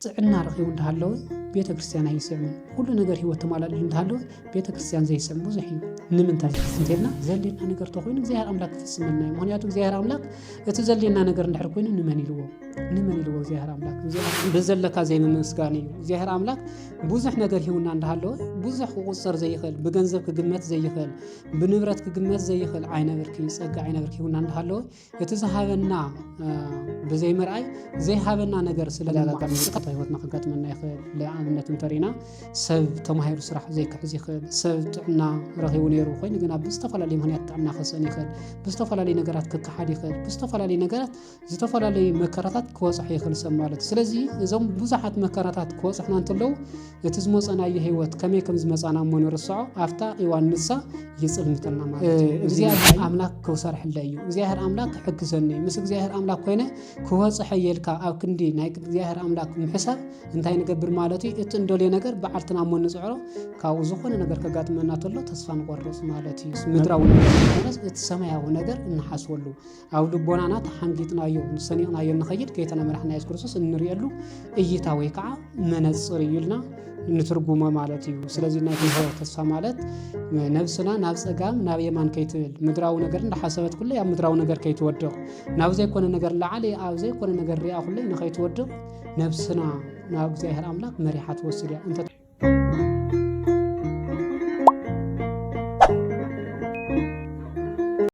ጥዕና ረኺቡ እንተሃለወ ቤተ ክርስቲያን ኣይስዕምን ኩሉ ነገር ሂወት ተማላልዩ እንተሃለወ ቤተ ክርስቲያን ዘይስዕም ብዙሕ እዩ ንምንታይ እንተልና ዘልየና ነገር ተኮይኑ እግዚኣብሔር ኣምላክ ክፍፅመልና እዩ ምክንያቱ እግዚኣብሔር ኣምላክ እቲ ዘልየና ነገር እንድሕር ኮይኑ ንመን ኢልዎ ንመን ኢልዎ እግዚኣብሔር ኣምላክ ብዘለካ ዘይምምስጋን እዩ እግዚኣብሔር ኣምላክ ብዙሕ ነገር ሂውና እንዳሃለወ ብዙሕ ክቁፀር ዘይኽእል ብገንዘብ ክግመት ዘይኽእል ብንብረት ክግመት ዘይኽእል ዓይነ ብርኪ ፀጋ ዓይነ ብርኪ ሂውና እንዳሃለወ እቲ ዝሃበና ብዘይምርኣይ ዘይሃበና ነገር ስለለጋጣሚታ ህይወትና ከጋጥመና ይኽእል ንኣብነት እንተሪና ሰብ ተማሂሩ ስራሕ ዘይክሕዝ ይኽእል ሰብ ጥዕና ረኺቡ ነይሩ ኮይኑ ግና ብዝተፈላለዩ ምክንያት ጥዕና ክስእን ይኽእል ብዝተፈላለዩ ነገራት ክከሓድ ይኽእል ብዝተፈላለዩ ነገራት ዝተፈላለዩ መከራታት ክወፅሖ ይኽእል ሰብ ማለት እዩ ስለዚ እዞም ብዙሓት መከራታት ክወፅሕና እንተለዉ እቲ ዝሞጸናዮ ህይወት ከመይ ከም ዝመጻና እሞ ንርሰዖ ኣብታ ኢዋን ንሳ ይጽልምተና ማለት እዩ እግዚኣብሔር ኣምላክ ክውሰርሕለይ እዩ እግዚኣብሔር ኣምላክ ክሕግዘኒ እዩ ምስ እግዚኣብሔር ኣምላክ ኮይነ ክወጽሖ የልካ ኣብ ክንዲ ናይ እግዚኣብሔር ኣምላክ ምሕሳብ እንታይ ንገብር ማለት እዩ እቲ እንደልዮ ነገር በዓልትና እሞ ንጽዕሮ ካብኡ ዝኾነ ነገር ከጋጥመና ተሎ ተስፋ ንቆርጽ ማለት እዩ ምድራዊ ነገር ኮነስ እቲ ሰማያዊ ነገር እንሓስበሉ ኣብ ልቦናና ተሓንጊጥናዮ ሰኒቕናዮ ንኸይድ ከይተነመራሕና የሱስ ክርስቶስ እንርእየሉ እይታ ወይ ከዓ መነፅር እዩ ኢልና ንትርጉሞ ማለት እዩ ስለዚ ናይ ትንሆ ተስፋ ማለት ነብስና ናብ ፀጋም ናብ የማን ከይትብል ምድራዊ ነገር እንዳሓሰበት ኩለይ ኣብ ምድራዊ ነገር ከይትወድቕ ናብ ዘይኮነ ነገር ላዓለ ኣብ ዘይኮነ ነገር ሪኣ ኩለይ ንኸይትወድቕ ነብስና ናብ እግዚኣብሔር ኣምላክ መሪሓ ትወስድ እያ እንተ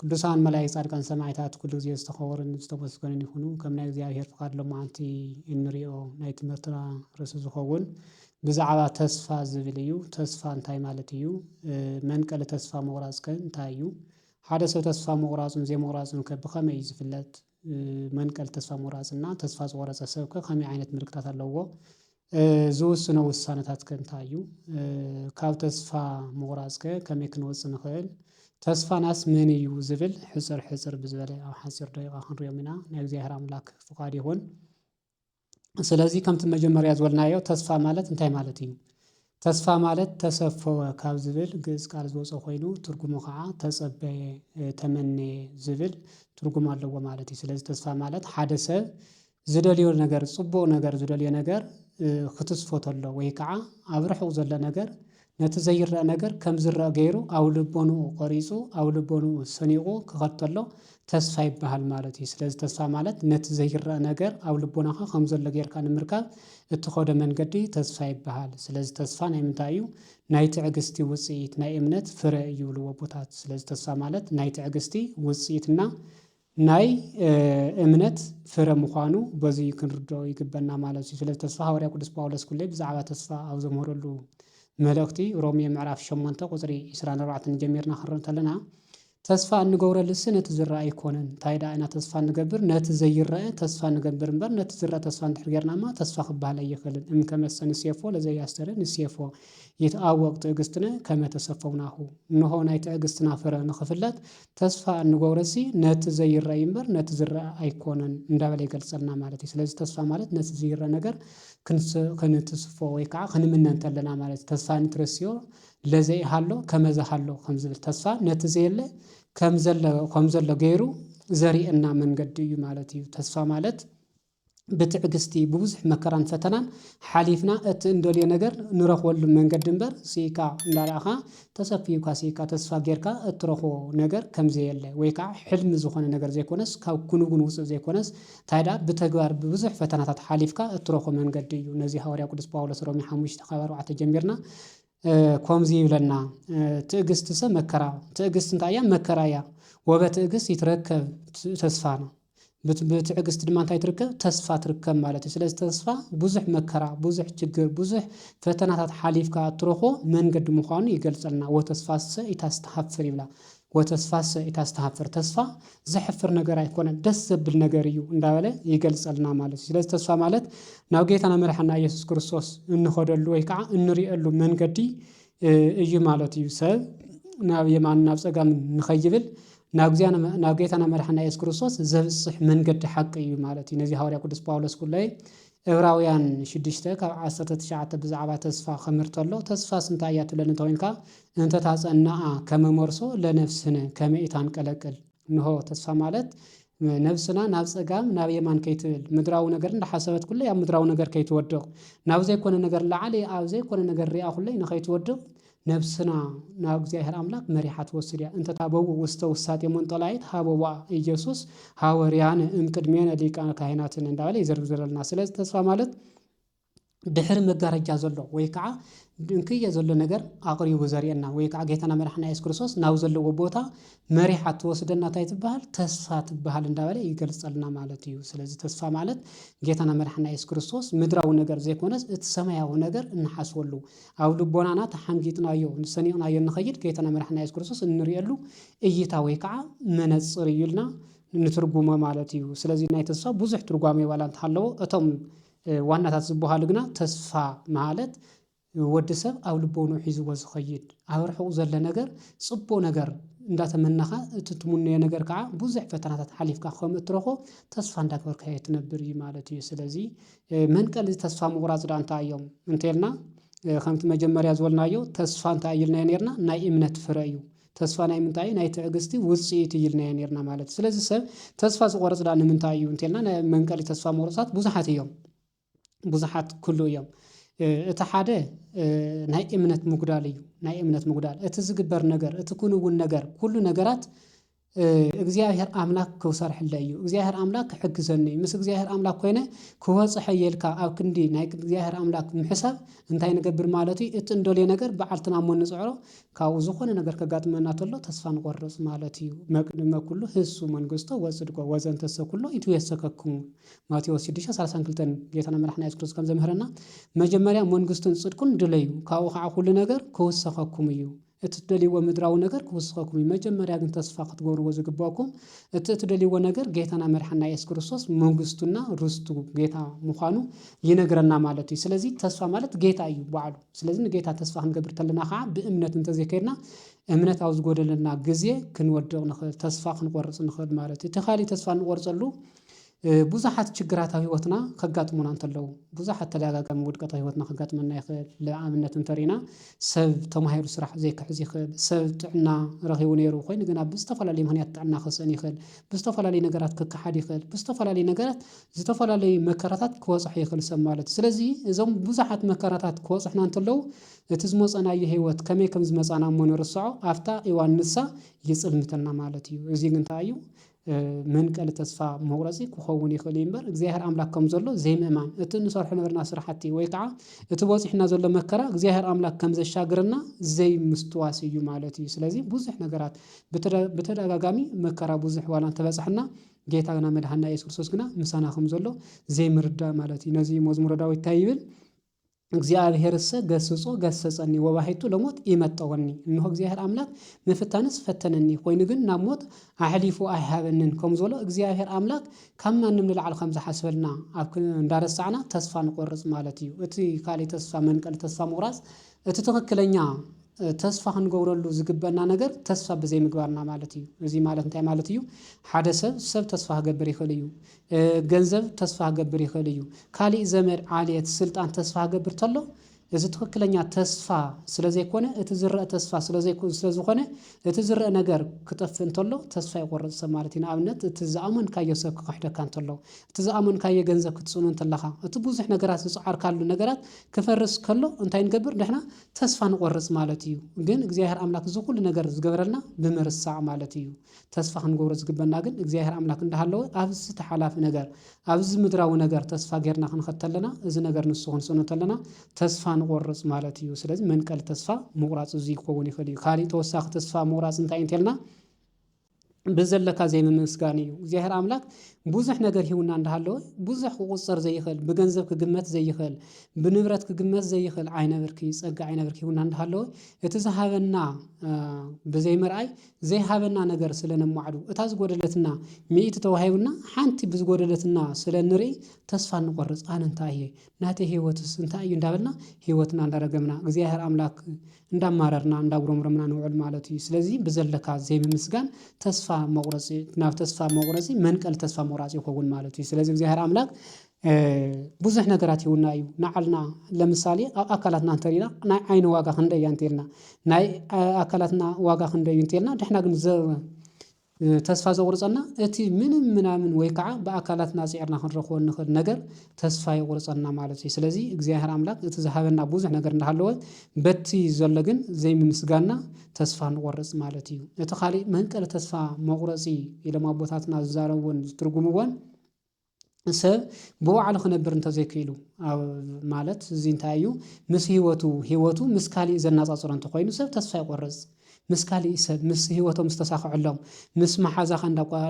ቅዱሳን መላኢክት ጻድቃን ሰማዒታት ኩሉ ግዜ ዝተኸበሩን ዝተመስገኑን ይኹኑ ከም ናይ እግዚኣብሔር ፍቃድ ሎማዓንቲ እንሪኦ ናይ ትምህርትና ርእሲ ዝኸውን ብዛዕባ ተስፋ ዝብል እዩ ተስፋ እንታይ ማለት እዩ መንቀሊ ተስፋ ምቑራጽ ከ እንታይ እዩ ሓደ ሰብ ተስፋ ምቑራጹን ዘይምቑራጹን ከ ብኸመይ እዩ ዝፍለጥ መንቀሊ ተስፋ ምቑራጽ እና ተስፋ ዝቖረጸ ሰብከ ከመይ ዓይነት ምልክታት ኣለዉዎ? ዝውስኖ ውሳነታትከ እንታይ እዩ? ካብ ተስፋ ምቑራጽከ ከመይ ክንወጽእ ንኽእል? ተስፋናስ መን እዩ ዝብል ሕጽር ሕጽር ብዝበለ ኣብ ሓጺር ደቂቃ ክንሪኦም ኢና ናይ እግዚኣብሔር ኣምላክ ፍቃድ ይኹን። ስለዚ ከምቲ መጀመርያ ዝበልናዮ ተስፋ ማለት እንታይ ማለት እዩ? ተስፋ ማለት ተሰፈወ ካብ ዝብል ግእዝ ቃል ዝወጸ ኾይኑ ትርጉሙ ኸዓ ተጸበየ ተመነየ ዝብል ትርጉም ኣለዎ ማለት እዩ። ስለዚ ተስፋ ማለት ሓደ ሰብ ዝደልዮ ነገር ጽቡቅ ነገር ዝደልዮ ነገር ክትስፎ ተሎ ወይ ከዓ ኣብ ርሑቅ ዘሎ ነገር ነቲ ዘይረኣ ነገር ከም ዝረኣ ገይሩ ኣብ ልቦንኡ ቀሪጹ ኣብ ልቦንኡ ሰኒቑ ክኸድ ተሎ ተስፋ ይበሃል ማለት እዩ። ስለዚ ተስፋ ማለት ነቲ ዘይረኣ ነገር ኣብ ልቦናኻ ከም ዘሎ ጌርካ ንምርካብ እትኸዶ መንገዲ ተስፋ ይበሃል። ስለዚ ተስፋ ናይ ምንታይ እዩ? ናይ ትዕግስቲ ውጽኢት፣ ናይ እምነት ፍረ እዩ ይብልዎ ኣቦታት። ስለዚ ተስፋ ማለት ናይ ትዕግስቲ ውጽኢት እና ናይ እምነት ፍረ ምዃኑ በዙይ ክንርድኦ ይግበና ማለት እዩ። ስለዚ ተስፋ ሃዋርያ ቅዱስ ጳውሎስ ኩሌ ብዛዕባ ተስፋ ኣብ ዘምህረሉ መልእኽቲ ሮሜ ምዕራፍ ሸሞንተ ቁጽሪ ዕስራን ኣርባዕተን ጀሚርና ክንርኢ እንተለና ተስፋ እንገብረሉሲ ነቲ ዝረኣ ኣይኮነን እንታይ ደኣ ኢና ተስፋ እንገብር ነቲ ዘይረኣ ተስፋ ንገብር እምበር ነቲ ዝረኣ ተስፋ እንድሕር ጌርናማ ተስፋ ክበሃል ኣይኽእልን እምከመሰ ንሴፎ ለዘያስተርኢ ንሴፎ ይትኣወቅ ትዕግስትነ ከመ ተሰፈው ናሁ እንሆ ናይ ትዕግስትና ፍረ ንኽፍለጥ ተስፋ እንገብሮሲ ነቲ ዘይረኣይ እምበር ነቲ ዝረኣ ኣይኮነን እንዳበለ ይገልጸልና ማለት እዩ። ስለዚ ተስፋ ማለት ነቲ ዝይረኣ ነገር ክንሰ ክንትስፎ ወይ ከኣ ክንምነ እንተለና ማለት እዩ። ተስፋ ንትረስዮ ለዘኢሃሎ ከመ ዘሃሎ ከም ዝብል ተስፋ ነቲ ዘየለ ከም ዘለ ከም ዘሎ ገይሩ ዘርእየና መንገዲ እዩ ማለት እዩ። ተስፋ ማለት ብትዕግስቲ ብብዙሕ መከራን ፈተናን ሓሊፍና እቲ እንደልዮ ነገር ንረኽበሉ መንገዲ እምበር ስኢካ እንዳረኣኻ ተሰፍዩካ ስኢካ ተስፋ ጌርካ እትረኽቦ ነገር ከምዘየለ ወይ ከዓ ሕልሚ ዝኾነ ነገር ዘይኮነስ ካብ ክንውን ውፁእ ዘይኮነስ ታይ ደኣ ብተግባር ብብዙሕ ፈተናታት ሓሊፍካ እትረኽቦ መንገዲ እዩ ነዚ ሃዋርያ ቅዱስ ጳውሎስ ሮሜ ሓሙሽተ ካብ ኣርባዕተ ጀሚርና ኮምዚ ይብለና ትእግስትሰ መከራ ትእግስት እንታይ እያ መከራ እያ ወበትእግስት ይትረከብ ተስፋ ነው። ብትዕግስት ድማ እንታይ ትርከብ ተስፋ ትርከብ ማለት እዩ። ስለዚ ተስፋ ብዙሕ መከራ ብዙሕ ችግር ብዙሕ ፈተናታት ሓሊፍካ እትረኽቦ መንገዲ ምዃኑ ይገልጸልና ወተስፋሰ ኢታስተሃፍር ይብላ። ወተስፋሰ ኢታስተሃፍር ተስፋ ዘሕፍር ነገር ኣይኮነን ደስ ዘብል ነገር እዩ እንዳበለ ይገልጸልና ማለት እዩ። ስለዚ ተስፋ ማለት ናብ ጌታና መድሓና ኢየሱስ ክርስቶስ እንኸደሉ ወይ ከዓ እንርእየሉ መንገዲ እዩ ማለት እዩ። ሰብ ናብ የማን ናብ ጸጋም ንኸይብል ናብ ጌታና መድሓና ኢየሱስ ክርስቶስ ዘብጽሕ መንገዲ ሓቂ እዩ ማለት እዩ። ነዚ ሃዋርያ ቅዱስ ጳውሎስ ኩለይ ዕብራውያን ሽዱሽተ ካብ ዓሰርተ ትሽዓተ ብዛዕባ ተስፋ ኸምር ተሎ ተስፋስ እንታይ እያ ትብለኒ እንተ ዄንካ፣ እንተ ታጸንኣ ከመ ሞርሶ ለነፍስነ ከመ ኢታንቀለቅል እንሆ፣ ተስፋ ማለት ነብስና ናብ ጸጋም ናብ የማን ከይትብል፣ ምድራዊ ነገር እንዳ ሓሰበት ኩለይ ኣብ ምድራዊ ነገር ከይትወድቕ፣ ናብ ዘይኰነ ነገር ላዓሊ ኣብ ዘይኰነ ነገር ሪኣ ኩለይ ንኸይትወድቕ ነብስና ናብ እግዚኣብሔር ኣምላክ መሪሓ ትወስድ እያ እንተ ታበውእ ውስተ ውሳጤ መንጦላይት ሀበዋ ኢየሱስ ሐወርያነ እምቅድሜነ ሊቃነ ካህናትነ እንዳበለ ይዘርዝረልና ስለዚ ተስፋ ማለት ድሕሪ መጋረጃ ዘሎ ወይ ከዓ ድንክየ ዘሎ ነገር ኣቕሪቡ ዘርእየና ወይ ከዓ ጌታና መድሓና የሱስ ክርስቶስ ናብ ዘለዎ ቦታ መሪሓ ትወስደና እንታይ ትበሃል ተስፋ ትበሃል እንዳበለ ይገልጸልና ማለት እዩ ስለዚ ተስፋ ማለት ጌታና መድሓና የሱስ ክርስቶስ ምድራዊ ነገር ዘይኮነስ እቲ ሰማያዊ ነገር እንሓስበሉ ኣብ ልቦናና ተሓንጊጥናዮ ንሰኒቕናዮ እንኸይድ ከይተነመርሕና የሱስ ክርስቶስ እንርእየሉ እይታ ወይ ከኣ መነጽር እዩ ኢልና ንትርጉሞ ማለት እዩ። ስለዚ ናይ ተስፋ ብዙሕ ትርጓሜ ዋላ እንተሃለዎ እቶም ዋናታት ዝበሃሉ ግና ተስፋ ማለት ወዲ ሰብ ኣብ ልቦንኡ ሒዝዎ ዝኸይድ ኣብ ርሑቕ ዘሎ ነገር ጽቡቕ ነገር እንዳተመነኻ እቲ ትምነዮ ነገር ከኣ ብዙሕ ፈተናታት ሓሊፍካ ከም እትረኽቦ ተስፋ እንዳገበርካዮ ትነብር እዩ ማለት እዩ። ስለዚ መንቀሊ እዚ ተስፋ ምቑራጽ ድኣ እንታይ እዮም እንተልና ከምቲ መጀመርያ ዝበልናዮ ተስፋ እንታይ እዩ ኢልናዮ ኔርና ናይ እምነት ፍረ እዩ። ተስፋ ናይ ምንታይ እዩ ናይ ትዕግስቲ ውጽኢት እዩ ኢልናዮ ኔርና ማለት እዩ። ስለዚ ሰብ ተስፋ ዝቖርጽ ድኣ ንምንታይ እዩ እንተልና ናይ መንቀሊ ተስፋ ምቑርጻት ብዙሓት እዮም። ብዙሓት ክህልው እዮም። እቲ ሓደ ናይ እምነት ምጉዳል እዩ ናይ እምነት ምጉዳል እቲ ዝግበር ነገር እቲ ክንውን ነገር ኩሉ ነገራት እግዚኣብሔር ኣምላክ ክውሰርሕለይ እዩ እግዚኣብሔር ኣምላክ ክሕግዘኒ እዩ ምስ እግዚኣብሔር ኣምላክ ኮይነ ክበፅሖ እየ ኢልካ ኣብ ክንዲ ናይ እግዚኣብሔር ኣምላክ ምሕሳብ እንታይ ንገብር ማለት እዩ እቲ እንደልዮ ነገር ብዓልትና እሞ ንፅዕሮ ካብኡ ዝኾነ ነገር ከጋጥመና ተሎ ተስፋ ንቆርፅ ማለት እዩ መቅድመ ኩሉ ህሱ መንግስቶ ወፅድቆ ወዘንተሰ ኩሎ ይትዌሰከክሙ ማቴዎስ ሽዱሽተ ሰላሳን ክልተን ጌታና መድሓኒና የሱስ ክርስቶስ ከም ዘምህረና መጀመርያ መንግስቱን ፅድቁን ድለዩ ካብኡ ከዓ ኩሉ ነገር ክውሰኸኩም እዩ እትደልይዎ ምድራዊ ነገር ክውስኸኩም እዩ። መጀመርያ ግን ተስፋ ክትገብርዎ ዝግበእኩም እቲ እትደልይዎ ነገር ጌታና መድሓና የሱስ ክርስቶስ መንግስቱና ርስቱ ጌታ ምዃኑ ይነግረና ማለት እዩ። ስለዚ ተስፋ ማለት ጌታ እዩ ባዕሉ። ስለዚ ንጌታ ተስፋ ክንገብር ተለና ኸዓ ብእምነት እንተዘይከድና እምነት ኣብ ዝጎደለና ግዜ ክንወድቕ ንኽእል ተስፋ ክንቆርጽ ንኽእል ማለት እዩ። እቲ ካሊእ ተስፋ እንቆርጸሉ ብዙሓት ችግራት ኣብ ህይወትና ከጋጥሙና እንተለዉ ብዙሓት ተዳጋጋሚ ውድቀት ኣብ ህይወትና ከጋጥመና ይኽእል ልኣብነት እንተሪና ሰብ ተማሂሩ ስራሕ ዘይክሕዝ ይኽእል ሰብ ጥዕና ረኺቡ ነይሩ ኮይኑ ግን ኣብ ዝተፈላለዩ ምክንያት ጥዕና ክስእን ይኽእል ብዝተፈላለዩ ነገራት ክከሓድ ይኽእል ብዝተፈላለዩ ነገራት ዝተፈላለዩ መከራታት ክበፅሖ ይኽእል ሰብ ማለት እዩ። ስለዚ እዞም ብዙሓት መከራታት ክበፅሑና እንተለዉ እቲ ዝመፀናዮ ህይወት ከመይ ከምዝመፃና እሞ ንርሰዖ ኣፍታ እዋን ንሳ ይፅልምተና ማለት እዩ። እዚ ግን እንታይ እዩ? መንቀሊ ተስፋ መቑረጺ ክኸውን ይኽእል እዩ እምበር እግዚኣብሔር ኣምላክ ከም ዘሎ ዘይምእማን እቲ እንሰርሖ ዝነበርና ስራሕቲ ወይ ከዓ እቲ በፂሑና ዘሎ መከራ እግዚኣብሔር ኣምላክ ከም ዘሻግረና ዘይምስትዋስ እዩ ማለት እዩ። ስለዚ ብዙሕ ነገራት ብተደጋጋሚ መከራ ብዙሕ ዋላ እንተበፀሐና ጌታ ግና መድሓኒና ኢየሱስ ክርስቶስ ግና ምሳና ከም ዘሎ ዘይምርዳእ ማለት እዩ። ነዚ መዝሙረ ዳዊት እንታይ ይብል? እግዚኣብሔርሰ ገሥጾ ገሠጸኒ ወባሕቱ ለሞት ኢመጠወኒ እንሆ እግዚኣብሔር ኣምላክ ምፍታንስ ፈተነኒ ኮይኑ ግን ናብ ሞት ኣሕሊፉ ኣይሃበንን ከም ዝበሎ እግዚኣብሔር ኣምላክ ካብ ማንም ንላዕሊ ከም ዝሓስበልና ኣብ እንዳረሳዕና ተስፋ ንቆርጽ ማለት እዩ እቲ ካልእ ተስፋ መንቀሊ ተስፋ ምቑራጽ እቲ ትኽክለኛ ተስፋ ክንገብረሉ ዝግበእና ነገር ተስፋ ብዘይምግባርና ማለት እዩ እዚ ማለት እንታይ ማለት እዩ ሓደ ሰብ ሰብ ተስፋ ክገብር ይኽእል እዩ ገንዘብ ተስፋ ክገብር ይኽእል እዩ። ካሊእ ዘመድ፣ ዓሌት፣ ስልጣን ተስፋ ክገብር ተሎ እዚ ትኽክለኛ ተስፋ ስለዘይኮነ እቲ ዝረእ ተስፋ ስለዝኾነ እቲ ዝረእ ነገር ክጠፍእ እንተሎ ተስፋ ይቆርፅ ሰብ ማለት እዩ። ንኣብነት እቲ ዝኣመንካዮ ሰብ ክኽሕደካ እንተሎ፣ እቲ ዝኣመንካዮ ገንዘብ ክትፅእኑ እንተለኻ፣ እቲ ብዙሕ ነገራት ዝፀዓርካሉ ነገራት ክፈርስ ከሎ እንታይ ንገብር ንሕና ተስፋ ንቆርፅ ማለት እዩ። ግን እግዚኣብሔር ኣምላክ እዚ ኩሉ ነገር ዝገበረልና ብምርሳዕ ማለት እዩ። ተስፋ ክንገብሮ ዝግበና ግን እግዚኣብሔር ኣምላክ እንዳሃለወ ኣብዚ ስቲ ሓላፊ ነገር ኣብዚ ምድራዊ ነገር ተስፋ ጌርና ክንኸድ ተለና እዚ ነገር ንሱ ክንስእኖ ተለና ተስፋ ንቆርጽ ማለት እዩ ስለዚ መንቀሊ ተስፋ ምቁራጽ እዚ ክኸውን ይኽእል እዩ ካሊእ ተወሳኺ ተስፋ ምቁራጽ እንታይ እዩ እንተልና ብዘለካ ዘይምምስጋን እዩ እግዚኣብሔር ኣምላክ ብዙሕ ነገር ሂውና እንዳሃለወ ብዙሕ ክቁጸር ዘይኽእል ብገንዘብ ክግመት ዘይኽእል ብንብረት ክግመት ዘይኽእል ዓይነ ብርኪ ጸጋ ዓይነ ብርኪ ሂውና እንዳሃለወ እቲ ዝሃበና ብዘይምርኣይ ዘይሃበና ነገር ስለ ነማዕዱ፣ እታ ዝጎደለትና ሚእቲ ተዋሂቡና ሓንቲ ብዝጎደለትና ስለ እንርኢ ተስፋ እንቆርጽ፣ ኣነ እንታይ እየ? ናተይ ህይወትስ እንታይ እዩ? እንዳበልና ህይወትና እንዳረገምና፣ እግዚኣብሔር ኣምላክ እንዳማረርና፣ እንዳጉረምረምና ንውዕል ማለት እዩ። ስለዚ ብዘለካ ዘይምምስጋን ተስፋ መቁረጺ ናብ ተስፋ መቁረጺ መንቀሊ ተስፋ ምቁራጽ ይከውን ማለት እዩ። ስለዚ እግዚኣብሔር ኣምላክ ብዙሕ ነገራት ይውና እዩ ንዓልና ለምሳሌ ኣብ ኣካላትና እንተሪና ናይ ዓይኒ ዋጋ ክንደይ እያ እንተልና ናይ ኣካላትና ዋጋ ክንደይ እዩ እንተልና ንሕና ግን ዘ ተስፋ ዘቑርፀና እቲ ምንም ምናምን ወይ ከዓ ብኣካላትና ፅዒርና ክንረኽቦ እንኽእል ነገር ተስፋ የቑርፀና ማለት እዩ። ስለዚ እግዚኣብሔር ኣምላክ እቲ ዝሃበና ብዙሕ ነገር እንዳሃለወ በቲ ዘሎ ግን ዘይምምስጋና ተስፋ ንቖርፅ ማለት እዩ። እቲ ካሊእ መንቀሊ ተስፋ መቑረፂ ኢሎም ኣቦታትና ዝዛረብዎን ዝትርጉምዎን ሰብ ብባዕሉ ክነብር እንተዘይክኢሉ ማለት እዚ እንታይ እዩ ምስ ህይወቱ ህይወቱ ምስ ካሊእ ዘናጻጽሮ እንተኾይኑ ሰብ ተስፋ ይቆርጽ። ምስ ካሊእ ሰብ ምስ ህይወቶም ምስ ተሳኽዐሎም ምስ መሓዛኻ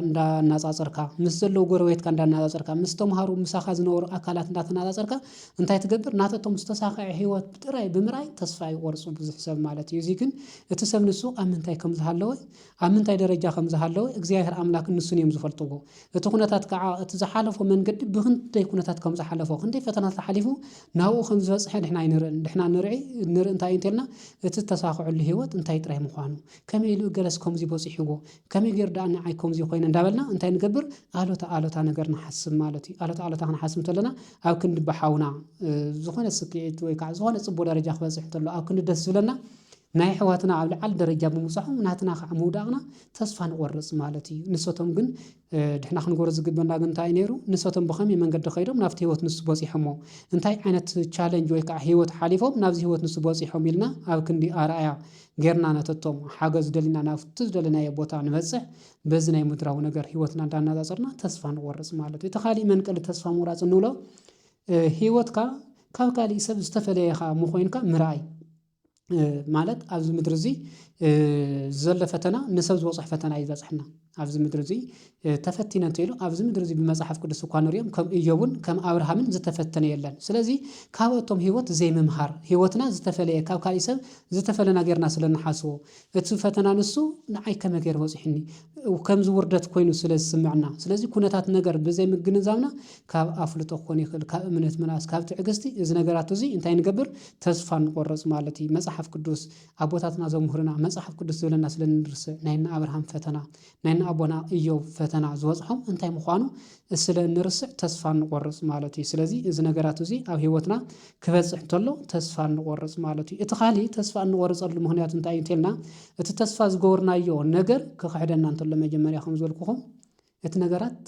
እንዳናጻጸርካ ምስ ዘለዉ ጎረቤትካ እንዳናጻጸርካ ምስ ተምሃሩ ምሳኻ ዝነበሩ ኣካላት እንዳተናጻጸርካ እንታይ ትገብር ናተቶም ዝተሳኽዐ ህይወት ጥራይ ብምርኣይ ተስፋ ይቆርጹ ብዙሕ ሰብ ማለት እዩ። እዚ ግን እቲ ሰብ ንሱ ኣብ ምንታይ ከም ዝሃለወ ኣብ ምንታይ ደረጃ ከም ዝሃለወ እግዚኣብሔር ኣምላክን ንሱን እዮም ዝፈልጥዎ። እቲ ኩነታት ከኣ እቲ ዝሓለፎ መንገዲ ብኽንደይ ኩነታት ከም ዝሓለፎ ክንደይ ፈተናታት ሓሊፉ ናብኡ ከም ዝበጽሐ ንሕና ኣይንርእን። ንሕና ንርኢ ንርኢ እንታይ እዩ እንተልና እቲ ዝተሳኽዐሉ ህይወት እንታይ ጥራይ ምዃኑ ከመይ ኢሉ እገለስ ከምዚ በጺሕዎ ከመይ ጌሩ ደኣ ንዓይ ከምዚ ኮይነ እንዳበልና እንታይ ንገብር ኣሉታ ኣሉታ ነገር ንሓስብ ማለት እዩ። ኣሉታ ኣሉታ ክንሓስብ እንተለና ኣብ ክንዲ ብሓውና ዝኾነ ስኪዒት ወይ ከኣ ዝኾነ ጽቡቕ ደረጃ ክበጽሕ እንተሎ ኣብ ክንዲ ደስ ዝብለና ናይ ኣሕዋትና ኣብ ልዓሊ ደረጃ ብምብጻሖም ናትና ከኣ ምውዳቕና ተስፋ ንቆርጽ ማለት እዩ። ንሰቶም ግን ድሕና ክንገብሮ ዝግበና ግን እንታይ እዩ ነይሩ ንሰቶም ብኸመይ መንገዲ ከይዶም ናብቲ ህይወት ንሱ በጺሖሞ እንታይ ዓይነት ቻለንጅ ወይ ከዓ ህይወት ሓሊፎም ናብዚ ህይወት ንሱ በጺሖም ኢልና ኣብ ክንዲ ኣርኣያ ጌርና ነተቶም ሓገዝ ደሊና ናብቲ ዝደለናዮ ቦታ ንበጽሕ በዚ ናይ ምድራዊ ነገር ህይወትና እንዳናጻጸርና ተስፋ ንቆርጽ ማለት እዩ። እቲ ካሊእ መንቀሊ ተስፋ ምቑራጽ እንብሎ ህይወትካ ካብ ካሊእ ሰብ ዝተፈለየ ኢኻ ምኾይንካ ምርኣይ ማለት ኣብዚ ምድሪ እዚ ዘሎ ፈተና ንሰብ ዝበፅሕ ፈተና እዩ ዝበፅሐና ኣብዚ ምድሪ እዚ ተፈቲነ እንተይሉ ኣብዚ ምድሪ እዚ ብመፅሓፍ ቅዱስ እኳ ንሪኦም ከም እዮብን ከም ኣብርሃምን ዝተፈተነ የለን ስለዚ ካበኣቶም ህይወት ዘይምምሃር ህይወትና ዝተፈለየ ካብ ካሊእ ሰብ ዝተፈለና ጌርና ስለ ንሓስቦ እቲ ፈተና ንሱ ንዓይ ከመይ ገይሩ በጺሑኒ ከምዚ ውርደት ኮይኑ ስለ ዝስምዕና። ስለዚ ኩነታት ነገር ብዘይ ምግንዛብና ካብ ኣፍልጦ ክኾን ይኽእል፣ ካብ እምነት ምንኣስ፣ ካብ ትዕግስቲ እዚ ነገራት እዚ እንታይ ንገብር ተስፋ ንቆርጽ ማለት እዩ። መጽሓፍ ቅዱስ ኣቦታትና ዘምህሩና መጽሓፍ ቅዱስ ዝብለና ስለ ንርስዕ ናይ እነ ኣብርሃም ፈተና ናይ ንኣቦና እዮብ ፈተና ዝበጽሖም እንታይ ምዃኑ ስለ እንርስዕ ተስፋ እንቆርጽ ማለት እዩ። ስለዚ እዚ ነገራት እዚ ኣብ ህይወትና ክበጽሕ እንተሎ ተስፋ እንቆርጽ ማለት እዩ። እቲ ካልእ ተስፋ እንቆርጸሉ ምኽንያት እንታይ እዩ እንተልና እቲ ተስፋ ዝገበርናዮ ነገር ክኽሕደና እንተሎ መጀመርያ ከም ዝበልኩኹም እቲ ነገራት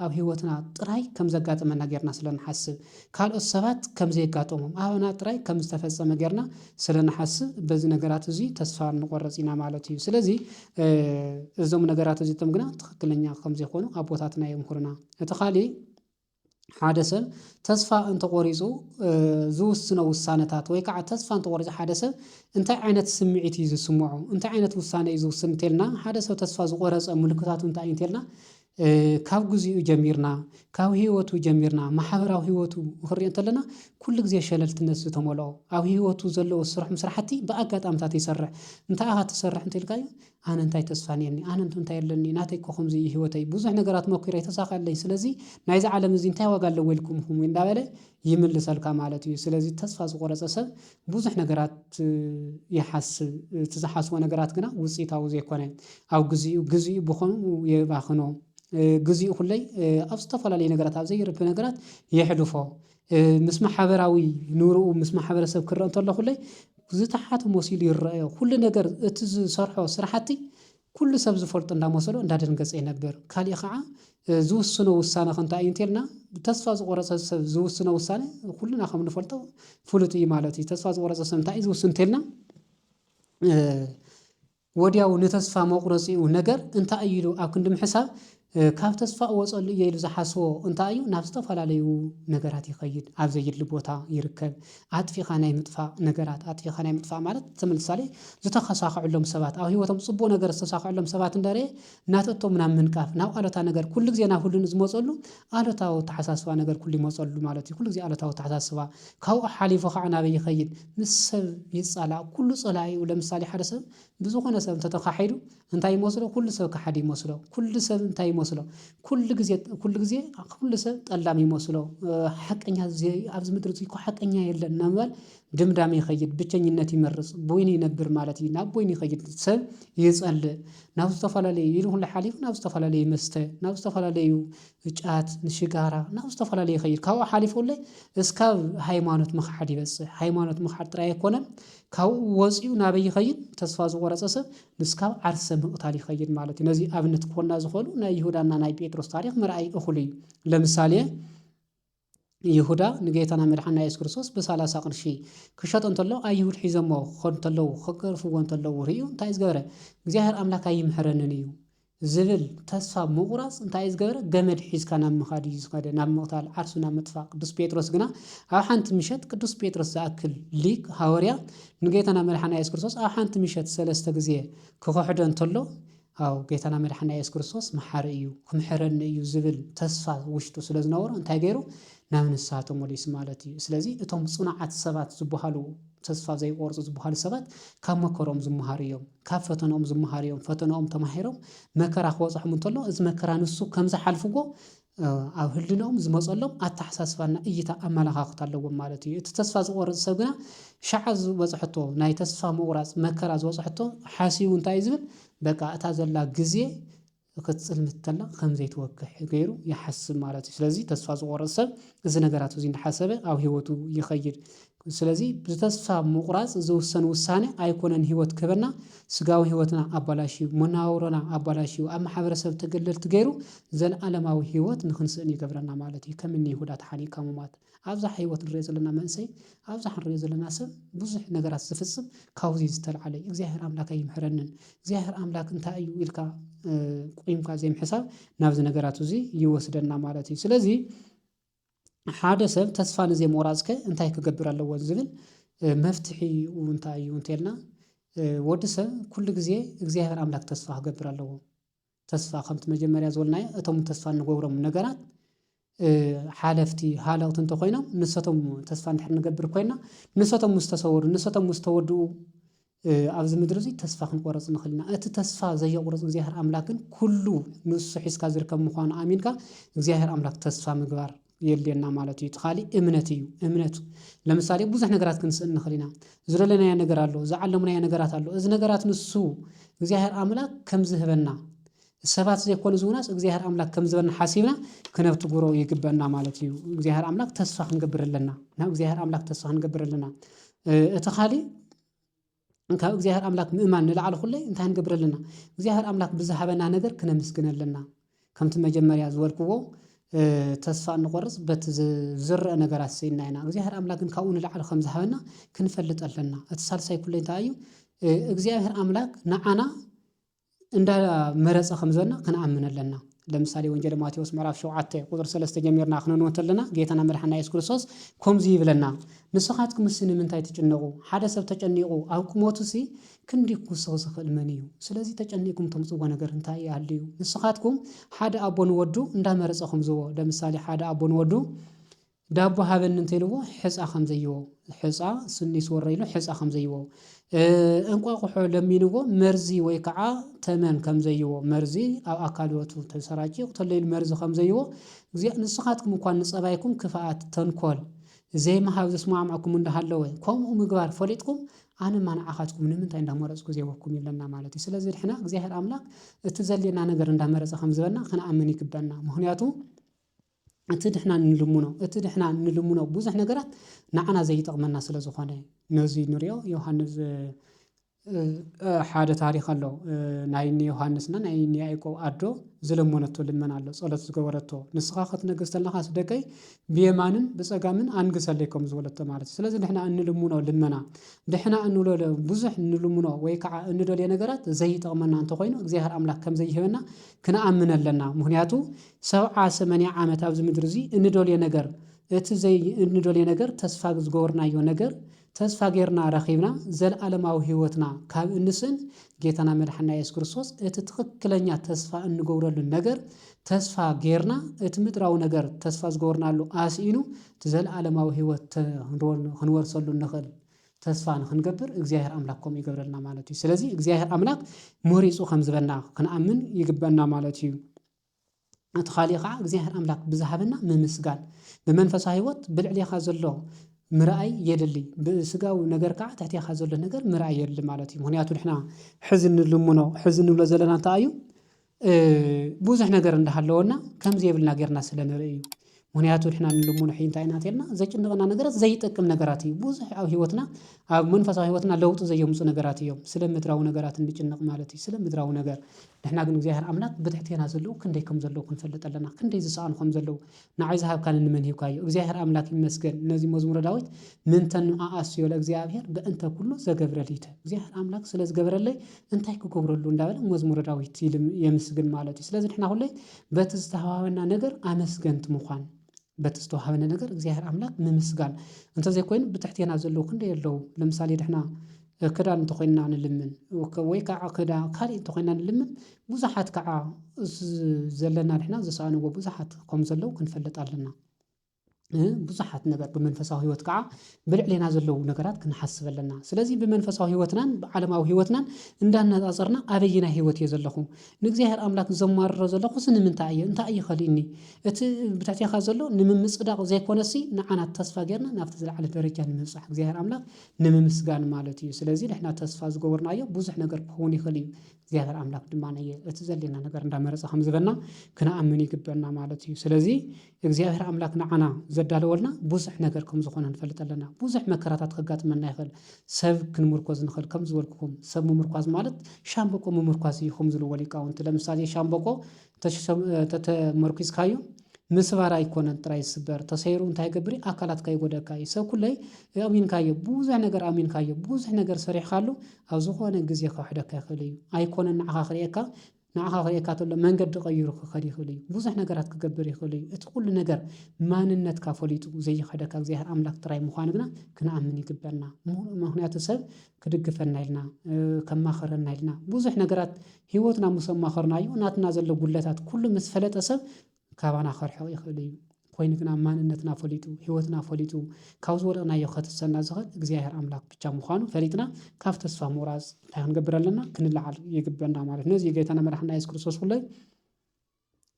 ኣብ ሕይወትና ጥራይ ከም ዘጋጠመና ጌርና ስለ ንሓስብ፣ ካልኦት ሰባት ከም ዘየጋጠሞም፣ ኣባና ጥራይ ከም ዝተፈጸመ ጌርና ስለ ንሓስብ፣ በዚ ነገራት እዚ ተስፋ ንቆረጽ ኢና ማለት እዩ። ስለዚ እዞም ነገራት እዚቶም ግና ትኽክለኛ ከም ዘይኮኑ ኣቦታትና የምህሩና። እቲ ካልእ፣ ሓደ ሰብ ተስፋ እንተቖሪጹ ዝውስኖ ውሳነታት ወይ ከዓ ተስፋ እንተቖሪጹ ሓደ ሰብ እንታይ ዓይነት ስምዒት እዩ ዝስምዖ እንታይ ዓይነት ውሳነ እዩ ዝውስን እንተልና ሓደ ሰብ ተስፋ ዝቖረጸ ምልክታቱ እንታይ እዩ እንተልና ካብ ግዚኡ ጀሚርና ካብ ህይወቱ ጀሚርና ማሕበራዊ ህይወቱ ክንሪኦ እንተለና ኩሉ ግዜ ሸለልትነት ዝተመልኦ ኣብ ህይወቱ ዘለዎ ዝሰርሖም ስራሕቲ ብኣጋጣምታት ይሰርሕ እንታይ ኢኻ ትሰርሕ እንተልካዮ ኣነ እንታይ ተስፋ ኔርኒ ኣነ እንቶ እንታይ ኣለኒ ናተይ እኮ ከምዚ እዩ ሂወተይ ብዙሕ ነገራት ሞኪረ ኣይተሳከዐለይን ስለዚ ናይዚ ዓለም እዚ እንታይ ዋጋ ኣለዎ ኢልኩም ኢኩም እንዳበለ ይምልሰልካ ማለት እዩ ስለዚ ተስፋ ዝቆረጸ ሰብ ብዙሕ ነገራት ይሓስብ እቲ ዝሓስቦ ነገራት ግና ውጺኢታዊ ዘይኮነ ኣብ ግዚኡ ግዚኡ ብከምኡ የባክኖ ግዚኡ ኩለይ ኣብ ዝተፈላለዩ ነገራት ኣብ ዘይርቢ ነገራት የሕልፎ ምስ ማሓበራዊ ንብርኡ ምስ ማሕበረሰብ ክረኣ እንተሎ ኩለይ ዝተሓተ መሲሉ ይረኣዮ ኩሉ ነገር እቲ ዝሰርሖ ስራሕቲ ኩሉ ሰብ ዝፈልጦ እንዳመሰሎ እንዳደንገጸ ይነብር ካሊእ ከዓ ዝውስኖ ውሳነ ከ እንታይ እዩ እንተልና ተስፋ ዝቆረጸ ሰብ ዝውስኖ ውሳነ ኩልና ከም ንፈልጦ ፍሉጥ እዩ ማለት እዩ ተስፋ ዝቆረጸ ሰብ እንታይ እዩ ዝውስን እንተልና ወዲያው ንተስፋ መቑረጺኡ ነገር እንታይ እዩ ኢሉ ኣብ ክንዲ ምሕሳብ፣ ካብ ተስፋ እወጸሉ እየ ኢሉ ዝሓስቦ እንታይ እዩ ናብ ዝተፈላለዩ ነገራት ይኸይድ፣ ኣብ ዘዩድሊ ቦታ ይርከብ፣ ኣጥፊእኻ ናይ ምጥፋእ ነገራት፣ ኣጥፊእኻ ናይ ምጥፋእ ማለት ተምሳሌ ዝተኸሳኸዐሎም ሰባት ኣብ ህይወቶም ጽቡቕ ነገር ዝተሳኸዐሎም ሰባት እንዳረኤ ናተቶም ናብ ምንቃፍ፣ ናብ ኣሉታ ነገር ኩሉ ግዜ ናብ ህሉን ዝመጸሉ ኣሉታዊ ኣተሓሳስባ ነገር ኩሉ ይመጸሉ ማለት እዩ፣ ኩሉ ግዜ ኣሉታዊ ኣተሓሳስባ፣ ካብኡ ሓሊፉ ካዓ ናበይ ይኸይድ? ምስ ሰብ ይጻላእ ኩሉ ጸላኢኡ ለምሳሌ ሓደ ሰብ ብዝኾነ ሰብ እንተ ተኻሒዱ እንታይ ይመስሎ ኩሉ ሰብ ከሓዲ ይመስሎ ኩሉ ሰብ እንታይ ይመስሎ ኩሉ ግዜ ኩሉ ግዜ ኩሉ ሰብ ጠላም ይመስሎ ሓቀኛ ኣብዚ ምድሪ እዚ እኮ ሓቀኛ የለን እናበል ድምዳሜ ይኸይድ ብቸኝነት ይመርጽ ቦይኑ ይነብር ማለት እዩ ናብ ቦይኑ ይኸይድ ሰብ ይጸልእ ናብ ዝተፈላለዩ ኢሉ ኩሉ ሓሊፉ ናብ ዝተፈላለዩ መስተ ናብ ዝተፈላለዩ ንጫት ንሽጋራ ናብ ዝተፈላለዩ ይኸይድ ካብኡ ሓሊፉ እለ እስካብ ሃይማኖት ምኽሓድ ይበጽሕ ሃይማኖት ምኽሓድ ጥራይ ኣይኮነን ካብኡ ወጺኡ ናበይ ይኸይድ ተስፋ ዝቖረጸ ሰብ ንስካብ ዓርሰ ምቕታል ይኸይድ ማለት እዩ ነዚ ኣብነት ክኾና ዝኽእሉ ናይ ይሁዳና ናይ ጴጥሮስ ታሪኽ ምርኣይ እኹል እዩ ለምሳሌ ይሁዳ ንጌታና መድሓኒና የሱስ ክርስቶስ ብሳላሳ ቅርሺ ክሸጦ እንተሎ ኣይሁድ ሒዞሞ ክኸዱ እንተለዉ ክገርፍዎ እንተለዉ ርእዩ እንታይ ዝገበረ እግዚኣብሔር ኣምላክ ኣይምሕረንን እዩ ዝብል ተስፋ ምቑራጽ እንታይ ዝገበረ ገመድ ሒዝካ ናብ ምኻድ እዩ ዝኸደ ናብ ምቕታል ዓርሱ ናብ ምጥፋእ ቅዱስ ጴጥሮስ ግና ኣብ ሓንቲ ምሸት ቅዱስ ጴጥሮስ ዝኣክል ሊቅ ሃወርያ ንጌታና መድሓና የሱስ ክርስቶስ ኣብ ሓንቲ ምሸት ሰለስተ ግዜ ክኽሕዶ እንተሎ ኣው ጌታና መድሓና የሱስ ክርስቶስ መሓሪ እዩ ክምሕረኒ እዩ ዝብል ተስፋ ውሽጡ ስለ ዝነበሮ እንታይ ገይሩ ናብ ንስሃ ተመሊሱ ማለት እዩ ስለዚ እቶም ጽኑዓት ሰባት ዝብሃሉ ተስፋ ዘይቆርጹ ዝብሃሉ ሰባት ካብ መከሮም ዝምሃሩ እዮም ካብ ፈተኖኦም ዝምሃሩ እዮም ፈተኖኦም ተማሂሮም መከራ ክበጽሖም እንተሎ እዚ መከራ ንሱ ከም ዝሓልፍዎ ኣብ ህልንኦም ዝመጸሎም ኣተሓሳስባን ናይ እይታ ኣመለኻኽታ ኣለዎም ማለት እዩ። እቲ ተስፋ ዝቆርጽ ሰብ ግና ሸዓ ዝበጽሐቶ ናይ ተስፋ ምቁራጽ መከራ ዝበጽሐቶ ሓሲቡ እንታይ እዩ ዝብል በቃ እታ ዘላ ግዜ ክትጽልምት ተላ ከምዘይትወግሕ ገይሩ ይሓስብ ማለት እዩ። ስለዚ ተስፋ ዝቆርጽ ሰብ እዚ ነገራት እዚ እንዳሓሰበ ኣብ ህይወቱ ይኸይድ። ስለዚ ብተስፋ ምቑራጽ ዝውሰን ውሳነ ኣይኮነን ህይወት ክህበና፣ ስጋዊ ህይወትና ኣባላሽዩ፣ መነባብሮና ኣባላሽዩ፣ ኣብ ማሕበረሰብ ተገለልቲ ገይሩ ዘልኣለማዊ ህይወት ንኽንስእን ይገብረና ማለት እዩ። ከም እኒ ይሁዳ ተሓኒቕካ ምሟት። ኣብዝሓ ህይወት ንርእዮ ዘለና መንእሰይ፣ ኣብዝሓ ንርእዮ ዘለና ሰብ ብዙሕ ነገራት ዝፍጽም ካብዚ ዝተልዓለ እዩ። እግዚኣብሔር ኣምላክ ኣይምሕረንን፣ እግዚኣብሔር ኣምላክ እንታይ እዩ ኢልካ ቆይምካ ዘይምሕሳብ ናብዚ ነገራት እዚ ይወስደና ማለት እዩ። ስለዚ ሓደ ሰብ ተስፋ ንዘይ ሞራጽከ እንታይ ክገብር ኣለዎ ዝብል መፍትሒ እንታይ እዩ እንተልና ወዲ ሰብ ኩሉ ግዜ እግዚኣብሔር ኣምላኽ ተስፋ ክገብር ኣለዎ። ተስፋ ከምቲ መጀመርያ ዝበልናዮ እቶም ተስፋ እንገብሮም ነገራት ሓለፍቲ ሃለውቲ እንተኾይኖም ንሰቶም ተስፋ እንድሕር ንገብር ኮይና ንሰቶም ምስ ተሰወሩ ንሰቶም ምስ ተወድኡ ኣብዚ ምድሪ እዚ ተስፋ ክንቆረጽ ንኽእል ኢና። እቲ ተስፋ ዘየቑርጽ እግዚኣብሔር ኣምላክ ግን ኩሉ ንሱ ሒዝካ ዝርከብ ምዃኑ ኣሚንካ እግዚኣብሔር ኣምላክ ተስፋ ምግባር የድልየና ማለት እዩ። እቲ ካሊእ እምነት እዩ። እምነት ለምሳሌ ብዙሕ ነገራት ክንስእን ንኽእል ኢና። ዝደለናዮ ነገር ኣሎ፣ ዝዓለምናዮ ነገራት ኣሎ። እዚ ነገራት ንሱ እግዚኣብሔር ኣምላክ ከም ዝህበና ንሰባት ዘይኮኑ ዝብሉናስ እግዚኣብሔር ኣምላክ ከም ዝበና ሓሲብና ክነብትግሮ ይግበእና ማለት እዩ እግዚኣብሔር ኣምላክ ተስፋ ክንገብር ኣለና ናብ እግዚኣብሔር ኣምላክ ተስፋ ክንገብር ኣለና እቲ ካሊእ ካብ እግዚኣብሔር ኣምላክ ምእማን ንላዕሊ ኩለይ እንታይ ክንገብር ኣለና እግዚኣብሔር ኣምላክ ብዝሃበና ነገር ክነምስግን ኣለና ከምቲ መጀመርያ ዝበልክዎ ተስፋ እንቆርፅ በቲ ዝረአ ነገራት ስኢና ኢና እግዚኣብሔር ኣምላክ ግን ካብኡ ንላዕሊ ከም ዝሃበና ክንፈልጥ ኣለና እቲ ሳልሳይ ኩሉ እንታይ እዩ እግዚኣብሔር ኣምላክ ንዓና እንዳመረጸ ከም ዘና ክንኣምን ኣለና። ለምሳሌ ወንጀለ ማቴዎስ ምዕራፍ ሸውዓተ ቁጽሪ ሰለስተ ጀሚርና ክነንቦ እንተለና ጌታና መድሓኒና የሱስ ክርስቶስ ኮምዚ ይብለና ንስኻትኩምሲ ንምንታይ ትጭነቁ ሓደ ሰብ ተጨኒቁ ኣብ ቁመቱሲ ክንዲ ክውስኽ ዝኽእል መን እዩ ስለዚ ተጨኒቅኩም ተምጽዎ ነገር እንታይ ይሃልዩ ንስኻትኩም ሓደ ኣቦ ንወዱ እንዳመረጸ ከምዝቦ ለምሳሌ ሓደ ኣቦ ንወዱ ዳቦ ሃበኒ እንተ ኢልዎ ሕጻ ከም ዘይቦ ሕጻ ስኒ ስወረ ኢሉ ሕጻ ከም ዘይቦ እንቋቑሖ ለሚንዎ መርዚ ወይ ከዓ ተመን ከም ዘይቦ መርዚ ኣብ ኣካል ህይወቱ ተሰራጭ ይቕተሎ ኢሉ መርዚ ከም ዘይቦ እግዚኣብ ንስኻትኩም እኳ ንጸባይኩም ክፍኣት ተንኮል ዘይምሃብ ዝስማዕማዕኩም እንዳሃለወ ከምኡ ምግባር ፈሊጥኩም ኣነማ ንዓኻትኩም ንምንታይ እንዳመረጽኩ ዘይበኩም ይብለና ማለት እዩ። ስለዚ ንሕና እግዚኣብሔር ኣምላኽ እቲ ዘድልየና ነገር እንዳመረጸ ከም ዝበና ክንኣምን ይግበና። ምክንያቱ እቲ ንሕና እንልምኖ እቲ ንሕና እንልምኖ ብዙሕ ነገራት ንዓና ዘይጠቕመና ስለ ዝኾነ ነዙይ ንሪኦ ዮሃንስ ሓደ ታሪኽ ኣሎ ናይ እኒ ዮሃንስ እና ናይ እኒ ያእቆብ ኣዶ ዝለመነቶ ልመና ኣሎ ጸሎት ዝገበረቶ ንስኻ ክትነግስ ተለኻ ኣስደቀይ ብየማንን ብጸጋምን ኣንግሰለይ ከም ዝበለቶ ማለት እዩ። ስለዚ ንሕና እንልምኖ ልመና ንሕና እንብሎ ብዙሕ እንልምኖ ወይ ከዓ እንደልዮ ነገራት ዘይጠቕመና እንተኾይኑ እግዚኣብሔር ኣምላኽ ከም ዘይህበና ክንኣምን ኣለና። ምኽንያቱ ሰብዓ ሰመንያ ዓመት ኣብዚ ምድሪ እዚ እንደልዮ ነገር እቲ ዘይ እንደልዮ ነገር ተስፋ ዝገበርናዮ ነገር ተስፋ ገርና ረኺብና ዘልኣለማዊ ሕይወትና ካብ እንስእን ጌታና መድሓኒና ኢየሱስ ክርስቶስ እቲ ትኽክለኛ ተስፋ እንገብረሉ ነገር ተስፋ ገርና እቲ ምድራዊ ነገር ተስፋ ዝገበርናሉ ኣስኢኑ እቲ ዘልኣለማዊ ሕይወት ክንወርሰሉ እንኽእል ተስፋ ንኽንገብር እግዚኣብሔር ኣምላክ ከምኡ ይገብረልና ማለት እዩ። ስለዚ እግዚኣብሔር ኣምላክ መሪጹ ከምዝበና ክንኣምን ይግበና ማለት እዩ። እቲ ኻልእ ኸዓ እግዚኣብሔር ኣምላክ ብዝሃበና ምምስጋን ብመንፈሳዊ ህይወት ብልዕሌኻ ዘሎ ምርኣይ የድሊ ብስጋዊ ነገር ከዓ ትሕቴኻ ዘሎ ነገር ምርኣይ የድሊ ማለት እዩ። ምክንያቱ ንሕና ሕዚ እንልምኖ ሕዚ እንብሎ ዘለና እንታይ እዩ? ብዙሕ ነገር እንዳሃለወና ከምዘይብልና ጌርና ስለንርኢ እዩ። ምክንያቱ ንሕና ንልሙኖ ሕጂ እንታይ ኢና እንተልና ዘጭንቀና ነገራት ዘይጠቅም ነገራት እዩ ብዙሕ ኣብ ህይወትና ኣብ መንፈሳዊ ህይወትና ለውጢ ዘየምጹ ነገራት እዮም ስለ ምድራዊ ነገራት እንጭነቅ ማለት እዩ ስለ ምድራዊ ነገር ንሕና ግን እግዚኣብሔር ኣምላክ ብትሕቴና ዘለዉ ክንደይ ከም ዘለዉ ክንፈልጥ ኣለና ክንደይ ዝሰኣኑ ከም ዘለዉ ንዓይ ዝሃብካኒ ንመን ሂብካዮ እግዚኣብሔር ኣምላክ ይመስገን ነዚ መዝሙረ ዳዊት ምንተኑ ኣኣስዮ ለእግዚኣብሔር በእንተ ኩሉ ዘገብረ ሊተ እግዚኣብሔር ኣምላክ ስለ ዝገበረለይ እንታይ ክገብረሉ እንዳበለ መዝሙረ ዳዊት ይል የምስግን ማለት እዩ ስለዚ ንሕና ሁሌ በቲ ዝተሃዋበና ነገር ኣመስገንቲ ምዃን በቲ ዝተዋሃበነ ነገር እግዚኣብሔር ኣምላኽ ምምስጋን እንተዘይኮይኑ ብትሕቴና ዘለዉ ክንደይ ኣለዉ ለምሳሌ ንሕና ክዳን እንተኾይንና ንልምን ወይ ከዓ ክዳ ካልእ እንተኾይና ንልምን ብዙሓት ከዓ ዘለና ንሕና ዝሰኣንዎ ብዙሓት ከምዘለዉ ክንፈልጥ ኣለና። ብዙሓት ነበር ብመንፈሳዊ ህይወት ከዓ ብልዕሌና ዘለዉ ነገራት ክንሓስብ ኣለና ስለዚ ብመንፈሳዊ ህይወትናን ብዓለማዊ ህይወትናን እንዳነፃፀርና ኣበየናይ ህይወት እየ ዘለኹ ንእግዚኣብሔር ኣምላክ ዘማርሮ ዘለኹ ስንምንታይ እየ እንታይ እዩ ከሊእኒ እቲ ብትሕቴኻ ዘሎ ንምምፅዳቕ ዘይኮነሲ ንዓና ተስፋ ጌርና ናብቲ ዝለዓለ ደረጃ ንምብፃሕ እግዚኣብሔር ኣምላክ ንምምስጋን ማለት እዩ ስለዚ ንሕና ተስፋ ዝገበርናዮ ብዙሕ ነገር ክኸውን ይኽእል እዩ እግዚኣብሔር ኣምላክ ድማ ነየ እቲ ዘድልየና ነገር እንዳመረጸ ከም ዝበና ክንኣምን ይግበና ማለት እዩ። ስለዚ እግዚኣብሔር ኣምላክ ንዓና ዘዳለወልና ብዙሕ ነገር ከም ዝኾነ ንፈልጥ ኣለና። ብዙሕ መከራታት ከጋጥመና ይኽእል። ሰብ ክንምርኮዝ ንኽእል ከም ዝበልኩኹም ሰብ ምምርኳዝ ማለት ሻምብቆ ምምርኳዝ እዩ ከም ዝብልዎ ሊቃውንቲ። ለምሳሌ ሻምብቆ ተተመርኲዝካዮ ምስባር ኣይኮነን ጥራይ ዝስበር ተሰይሩ እንታይ ይገብር እዩ ኣካላትካ ይጎደካ እዩ ሰብ ኩለይ ኣእሚንካዮ ብዙሕ ነገር ኣእሚንካዮ ብዙሕ ነገር ሰሪሕካሉ ኣብ ዝኾነ ግዜ ክኽሕደካ ይኽእል እዩ ኣይኮነን ንዓኻ ክርእየካ ንዓኻ ክርእየካ ተሎ መንገዲ ቀይሩ ክኸድ ይኽእል እዩ ብዙሕ ነገራት ክገብር ይኽእል እዩ እቲ ኩሉ ነገር ማንነትካ ፈሊጡ ዘይኽሕደካ እግዚኣብሔር ኣምላኽ ጥራይ ምዃኑ ግና ክንኣምን ይግበና ምኽንያቱ ሰብ ክድግፈና ኢልና ከማኽረና ኢልና ብዙሕ ነገራት ህይወትና ምስ ኣማኸርናዮ ናትና ዘሎ ጉድለታት ኩሉ ምስ ፈለጠ ሰብ ካባና ከርሕቕ ይኽእል እዩ። ኮይኑ ግና ማንነትና ፈሊጡ ህይወትና ፈሊጡ ካብ ዝወደቕናዮ ከትሰና ዝኽእል እግዚኣብሔር ኣምላኽ ብቻ ምዃኑ ፈሊጥና ካብ ተስፋ ምቑራፅ እንታይ ክንገብር ኣለና ክንለዓል ይግበና ማለት ነዚ ጌታና መድሓና የሱስ ክርስቶስ ኩለይ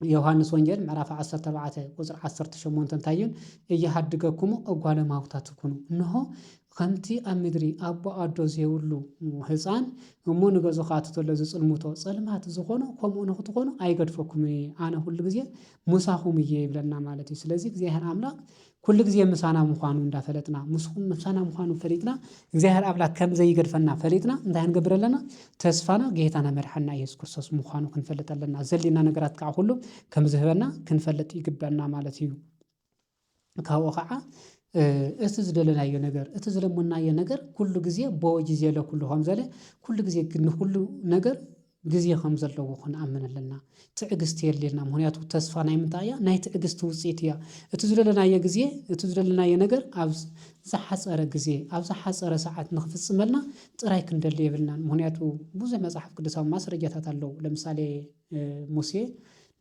ዮሃንስ ወንጌል ምዕራፍ ዓሰርተ ኣርባዕተ ቍጽሪ ዓሰርተ ሸሞንተ እንታይ እዩ? እየሃድገኩሙ እጓለ እማውታ ትኩኑ፣ እንሆ፣ ኸምቲ ኣብ ምድሪ ኣቦ ኣዶ ዜብሉ ህጻን እሞ ንገዝኡ ኺኣቱ ተሎ ዚጽልሙቶ ጸልማት ዚዀኑ፣ ከምኡ ንኽትዀኑ ኣይገድፈኩምን እየ፣ ኣነ ዅሉ ግዜ ምሳኹም እየ ይብለና ማለት እዩ። ስለዚ እግዚኣብሄር ኣምላኽ ኩሉ ግዜ ምሳና ምዃኑ እንዳፈለጥና ምስኹም ምሳና ምዃኑ ፈሊጥና እግዚኣብሔር ኣምላክ ከም ዘይገድፈና ፈሊጥና እንታይ ክንገብር ኣለና ተስፋና ጌታና መድሓኒና ኢየሱስ ክርስቶስ ምዃኑ ክንፈልጥ ኣለና ዘድልየና ነገራት ከዓ ኩሉ ከም ዝህበና ክንፈልጥ ይግበና ማለት እዩ። ካብኡ ከዓ እቲ ዝደለናዮ ነገር እቲ ዝለመናዮ ነገር ኩሉ ግዜ ቦወጅዜ ለኩሉ ከምዘለ ኩሉ ግዜ ንኩሉ ነገር ግዜ ከም ዘለዎ ክንኣምን ኣለና። ትዕግስቲ የድልየና ምክንያቱ ተስፋ ናይ ምንታይ እያ ናይ ትዕግስቲ ውጽኢት እያ። እቲ ዝደለናዮ ግዜ እቲ ዝደለናዮ ነገር ኣብ ዝሓጸረ ግዜ ኣብ ዝሓጸረ ሰዓት ንክፍጽመልና ጥራይ ክንደሊ የብልናን ምክንያቱ ብዙሕ መጽሓፍ ቅዱሳዊ ማስረጃታት ኣለዉ ለምሳሌ ሙሴ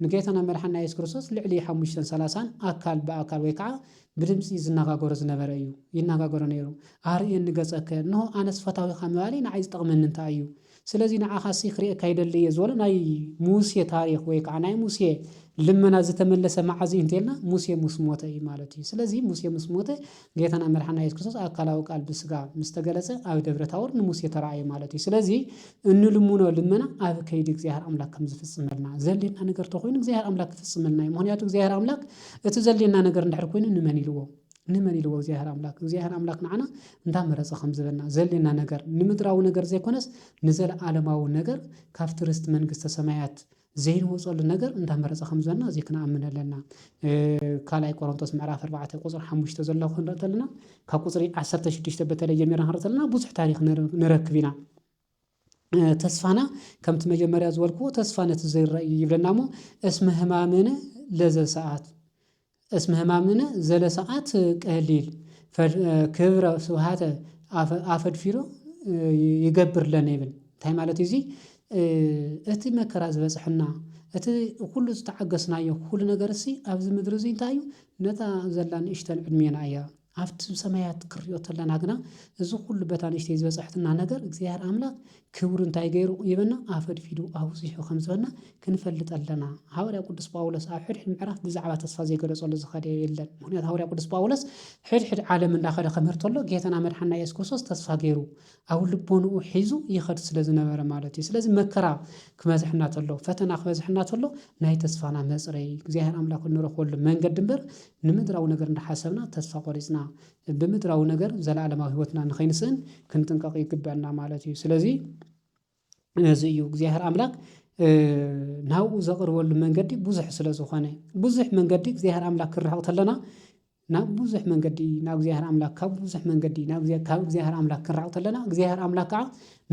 ንጌታና መድሓኒና የሱስ ክርስቶስ ልዕሊ ሓሙሽተን ሰላሳን ኣካል ብኣካል ወይ ከኣ ብድምጺ ዝነጋገሮ ዝነበረ እዩ ይነጋገሮ ነይሩ ኣርእየኒ ገጸከ እንሆ ኣነስ ፈታዊኻ ምባለይ ንዓይ ዝጠቕመኒ እንታይ እዩ ስለዚ ንዓኻሲ ክርእየካ ይደሊ እየ ዝበሎ ናይ ሙሴ ታሪኽ ወይ ከኣ ናይ ሙሴ ልመና ዝተመለሰ መዓዝ እዩ እንተይልና ሙሴ ምስ ሞተ እዩ ማለት እዩ። ስለዚ ሙሴ ምስ ሞተ ጌታና መድሓና የሱስ ክርስቶስ ኣካላዊ ቃል ብስጋ ምስ ተገለጸ ኣብ ደብረ ታቦር ንሙሴ ተራእየ ማለት እዩ። ስለዚ እንልምኖ ልመና ኣብ ከይዲ እግዚኣብሔር ኣምላክ ከም ዝፍጽመልና ዘድልየና ነገር ተኾይኑ እግዚኣብሔር ኣምላክ ክፍጽመልና እዩ። ምኽንያቱ እግዚኣብሔር ኣምላክ እቲ ዘድልየና ነገር እንድሕር ኮይኑ ንመን ኢልዎ ንመን ኢልዎ እግዚኣብሔር ኣምላክ እግዚኣብሔር ኣምላክ ንዓና እንታ መረጸ ከም ዝህበና ዘድልየና ነገር ንምድራዊ ነገር ዘይኮነስ ንዘለዓለማዊ ነገር ካብቲ ርስቲ መንግስተ ሰማያት ዘይንወጸሉ ነገር እንታ መረጸ ከም ዝህበና እዚ ክንኣምን ኣለና ካልኣይ ቆሮንቶስ ምዕራፍ ኣርባዕተ ቁጽሪ ሓሙሽተ ዘሎ ክንርኢ ተለና ካብ ቁጽሪ ዓሰርተ ሽዱሽተ በተለይ ጀሚርና ክንርኢ ተለና ብዙሕ ታሪክ ንረክብ ኢና ተስፋና ከምቲ መጀመርያ ዝበልክዎ ተስፋ ነቲ ዘይረኣ እዩ ይብለና እሞ እስመ ህማምነ ለዘሰኣት እስመ ህማምነ ዘለሰኣት ቀሊል ክብረ ስብሃተ ኣፈድፊዶ ይገብር ለነ ይብል እንታይ ማለት እዩ እዚ እቲ መከራ ዝበጽሐና እቲ ኩሉ ዝተዓገስናዮ ኩሉ ነገር እሲ ኣብዚ ምድሪ እዚ እንታይ እዩ ነታ ዘላ ንእሽተን ዕድሜና እያ። ኣብቲ ሰማያት ክንሪኦ ተለና ግና እዚ ኩሉ በታ ንእሽተይ ዝበጸሐትና ነገር እግዚኣብሔር ኣምላክ ክብሩ እንታይ ገይሩ ይበና ኣፈድፊዱ ኣብዚሑ ከም ዝበና ክንፈልጥ ኣለና ሃዋርያ ቅዱስ ጳውሎስ ኣብ ሕድሕድ ምዕራፍ ብዛዕባ ተስፋ ዘይገለጸሉ ዝኸደ የለን ምክንያቱ ሃዋርያ ቅዱስ ጳውሎስ ሕድሕድ ዓለም እንዳኸደ ከምህር ተሎ ጌታና መድሓና ኢየሱስ ክርስቶስ ተስፋ ገይሩ ኣብ ልቦንኡ ሒዙ ይኸድ ስለ ዝነበረ ማለት እዩ። ስለዚ መከራ ክበዝሐና ተሎ፣ ፈተና ክበዝሐና ተሎ ናይ ተስፋና መጽረይ እግዚኣብሔር ኣምላክ እንረኽበሉ መንገዲ እምበር ንምድራዊ ነገር እንዳሓሰብና ተስፋ ቆሪጽና ብምድራዊ ነገር ዘለዓለማዊ ህይወትና ንኸይንስእን ክንጥንቀቅ ይግበእና ማለት እዩ። ስለዚ ነዚ እዩ እግዚኣብሔር ኣምላክ ናብኡ ዘቅርበሉ መንገዲ ብዙሕ ስለ ዝኾነ ብዙሕ መንገዲ እግዚኣብሔር ኣምላክ ክንርሕቅ ተለና ናብ ብዙሕ መንገዲ ናብ እግዚኣብሔር ኣምላክ ካብ ብዙሕ መንገዲ ናብ ካብ እግዚኣብሔር ኣምላክ ክንርሕቅ ተለና እግዚኣብሔር ኣምላክ ከኣ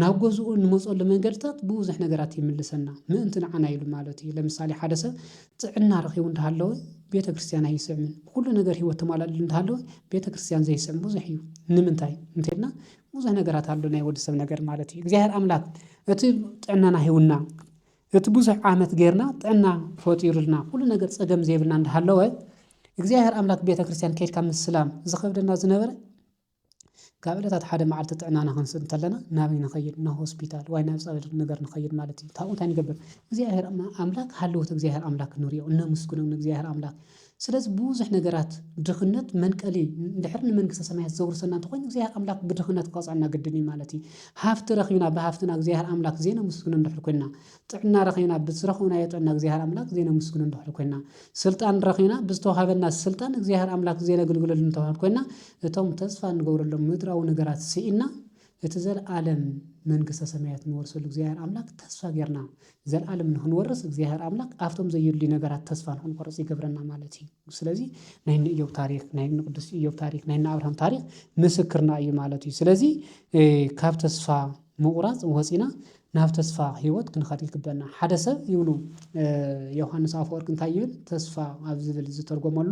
ናብ ገዝኡ እንመጸሉ መንገድታት ብብዙሕ ነገራት ይምልሰና ምእንቲ ንዓና ኢሉ ማለት እዩ። ለምሳሌ ሓደ ሰብ ጥዕና ረኪቡ እንዳሃለወ ቤተክርስትያን ኣይስዕምን ኩሉ ነገር ህይወት ተማላሊሉ እንዳሃለወ ቤተክርስትያን ዘይስዕም ብዙሕ እዩ ንምንታይ እንተይልና ብዙሕ ነገራት ኣሎ ናይ ወዲ ሰብ ነገር ማለት እዩ እግዚኣብሔር ኣምላክ እቲ ጥዕናና ሂውና እቲ ብዙሕ ዓመት ጌርና ጥዕና ፈጢሩልና ኩሉ ነገር ጸገም ዘይብልና እንዳሃለወ እግዚኣብሔር ኣምላክ ቤተ ክርስቲያን ከድካ ምስላም ዝኸብደና ዝነበረ ካብ ዕለታት ሓደ መዓልቲ ጥዕናና ክንስእ እንተለና ናበይ ንኸይድ ናብ ሆስፒታል ዋይ ናብ ጸበል ነገር ንኸይድ ማለት እዩ ካብኡ እንታይ ንገብር እግዚኣብሔር ኣምላክ ሃለዎት እግዚኣብሔር ኣምላክ ንሪኦ እነምስግኖም ንእግዚኣብሔር ኣምላክ ስለዚ ብዙሕ ነገራት ድኽነት መንቀሊ እንድሕር ንመንግስተ ሰማያት ዘውርሰና እንተኾይኑ እግዚኣብሔር ኣምላክ ብድኽነት ክቀጽዐና ግድን እዩ ማለት እዩ። ሃፍቲ ረኺብና ብሃፍትና እግዚኣብሔር ኣምላክ ዘይነምስግኖ እንድሕር ኮይንና፣ ጥዕና ረኺብና ብዝረኸብናዮ ጥዕና እግዚኣብሔር ኣምላክ ዘይነምስግኖ እንድሕር ኮይንና፣ ስልጣን ረኺብና ብዝተውሃበና ስልጣን እግዚኣብሔር ኣምላክ ዘይነግልግለሉ እንተኾይንና እቶም ተስፋ እንገብረሎም ምድራዊ ነገራት ስኢንና እቲ ዘልኣለም መንግስተ ሰማያት ንወርሰሉ እግዚኣብሔር ኣምላክ ተስፋ ገርና ዘልኣለም ንክንወርስ እግዚኣብሔር ኣምላክ ኣብቶም ዘዩድልዩ ነገራት ተስፋ ንክንቆርጽ ይገብረና ማለት እዩ ስለዚ ናይ እኒ እዮብ ታሪክ ናይ እኒ ቅዱስ እዮብ ታሪክ ናይ እኒ ኣብርሃም ታሪክ ምስክርና እዩ ማለት እዩ ስለዚ ካብ ተስፋ ምቁራጽ ወጺና ናብ ተስፋ ህይወት ክንኸድ ይግበና ሓደ ሰብ ይብሉ ዮውሃንስ ኣፈወርቅ እንታይ ይብል ተስፋ ኣብ ዝብል ዝተርጎመሉ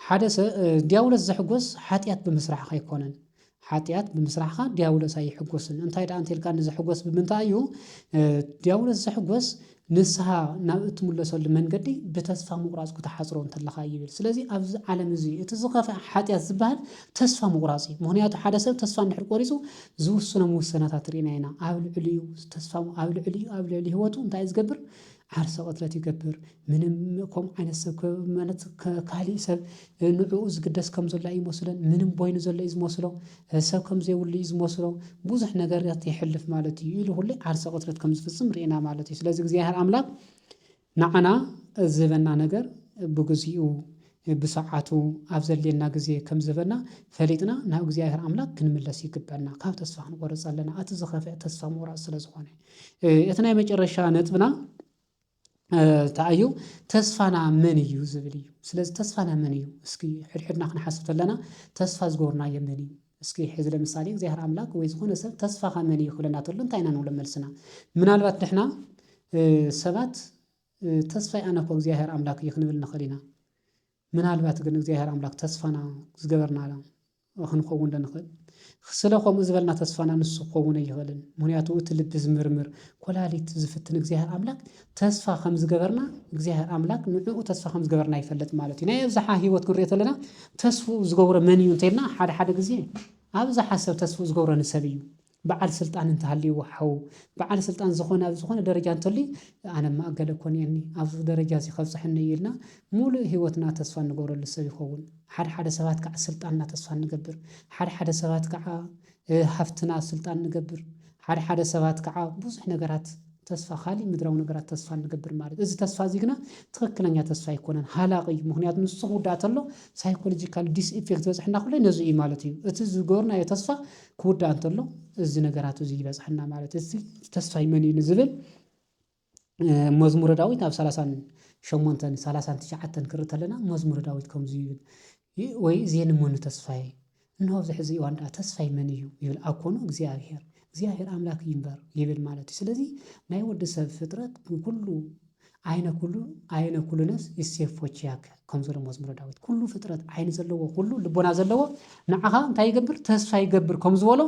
ሓደ ሰ ድያብሎስ ዝሕጎስ ሓጢኣት ብምስራሕካ ኣይኮነን። ሓጢኣት ብምስራሕካ ድያብሎስ ኣይሕጎስን። እንታይ ደኣ እንተልካኒ ዝሕጎስ ብምንታይ እዩ? ድያብሎስ ዝሕጎስ ንስሓ ናብ እትምለሰሉ መንገዲ ብተስፋ ምቑራጽ ክትሓጽሮ እንተለኻ እዩ ይብል። ስለዚ ኣብዚ ዓለም እዚ እቲ ዝኸፍኣ ሓጢኣት ዝበሃል ተስፋ ምቑራጽ እዩ። ምክንያቱ ሓደ ሰብ ተስፋ እንድሕር ቆሪጹ ዝውስኖም ውሳነታት ርኢና ኢና። ኣብ ልዕሊኡ ተስፋ ኣብ ልዕሊኡ ኣብ ልዕሊ ህይወቱ እንታይ እዩ ዝገብር? ዓርሰ ቅትለት ይገብር ምንም ከምኡ ዓይነት ሰብ ከ ማለት ከ ካሊእ ሰብ እ፣ ንዕኡ ዝግደስ ከም ዘሎ ኣይመስሎን ምንም ቦይኑ ዘሎ እዩ ዝመስሎ እ፣ ሰብ ከም ዘይብሉ እዩ ዝመስሎ ብዙሕ ነገራት የሕልፍ ማለት እዩ ኢሉ ሁሌ ዓርሰ ቅትለት ከም ዝፍጽም ርኢና ማለት እዩ ስለዚ እግዚኣብሔር ኣምላክ ንዓና ዝህበና ነገር ብግዚኡ ብሰዓቱ ኣብ ዘድልየና ግዜ ከም ዝበና ፈሊጥና ናብ እግዚኣብሔር ኣምላክ ክንምለስ ይግበና ካብ ተስፋ ክንቆርጽ ኣለና እቲ ዝኸፍኤ ተስፋ ምቁራጽ ስለ ዝኾነ እቲ ናይ መጨረሻ ነጥብና እንታይ እዩ ተስፋና መን እዩ ዝብል እዩ ስለዚ ተስፋና መን እዩ እስኪ ሕድሕድና ክንሓስብ ተለና ተስፋ ዝጎርናዮ መን እዩ እስኪ ሕዚ ለምሳሌ እግዚኣብሔር ኣምላክ ወይ ዝኾነ ሰብ ተስፋኻ መን እዩ ክብለና ተሎ እንታይ ኢና ንብሎ መልስና ምናልባት ንሕና ሰባት ተስፋይ ኣነ እኮ እግዚኣብሔር ኣምላክ እዩ ክንብል ንክእል ኢና ምናልባት ግን እግዚኣብሔር ኣምላክ ተስፋና ዝገበርና ክንከውን ዶ ንክእል ስለ ከምኡ ዝበልና ተስፋና ንሱ ክኸውን ኣይኽእልን ምክንያቱ እቲ ልቢ ዝምርምር ኮላሊት ዝፍትን እግዚኣብሔር ኣምላክ ተስፋ ከም ዝገበርና እግዚኣብሔር ኣምላክ ንዕኡ ተስፋ ከም ዝገበርና ይፈልጥ ማለት እዩ ናይ ኣብዝሓ ሂወት ክንሪኦ ተለና ተስፉ ዝገብሮ መን እዩ እንተልና ሓደ ሓደ ግዜ ኣብዝሓ ሰብ ተስፉ ዝገብሮ ንሰብ እዩ በዓል ስልጣን እንተሃልይዎ ሓው በዓል ስልጣን ዝኾነ ኣብ ዝኾነ ደረጃ እንተልዩ ኣነማ ኣገለ እኮ እኒኤኒ ኣብዚ ደረጃ እዚ ከብፅሐኒ እዩ ኢልና ሙሉእ ሂወትና ተስፋ እንገብረሉ ሰብ ይኸውን። ሓደ ሓደ ሰባት ከዓ ስልጣንና ተስፋ ንገብር፣ ሓደ ሓደ ሰባት ከዓ ሃፍትና ስልጣን ንገብር፣ ሓደ ሓደ ሰባት ከዓ ብዙሕ ነገራት ተስፋ ካሊእ ምድራዊ ነገራት ተስፋ ንገብር ማለት እዚ ተስፋ እዚ ግና ትኽክለኛ ተስፋ ኣይኮነን፣ ሃላቂ እዩ። ምክንያቱ ንሱ ክውዳእ ተሎ ሳይኮሎጂካል ዲስ ኢፌክት ዝበፅሐና ኩሉ ነዚ እዩ ማለት እዩ። እቲ ዝገበርናዮ ተስፋ ክውዳእ እንተሎ እዚ ነገራት እዚ ይበጽሓና ማለት እዚ ተስፋይ መን እዩ ንዝብል መዝሙረ ዳዊት ኣብ ሰላሳን ሸሞንተን ሰላሳን ትሽዓተን ክርኢ ተለና መዝሙረ ዳዊት ከምዚ ይብል ወይ እዜን መኑ ተስፋዬ እንሆ ኣብዚ ሕዚ እዋን ደኣ ተስፋይ መን እዩ ይብል ኣኮኑ እግዚኣብሄር እግዚኣብሄር ኣምላክ እዩ እምበር ይብል ማለት እዩ ስለዚ ናይ ወዲ ሰብ ፍጥረት ኩሉ ዓይነ ኩሉ ዓይነ ኩሉነስ ይሴፎች ያክ ከም ዘሎ መዝሙረ ዳዊት ኩሉ ፍጥረት ዓይኒ ዘለዎ ኩሉ ልቦና ዘለዎ ንዓኻ እንታይ ይገብር ተስፋ ይገብር ከም ዝበሎ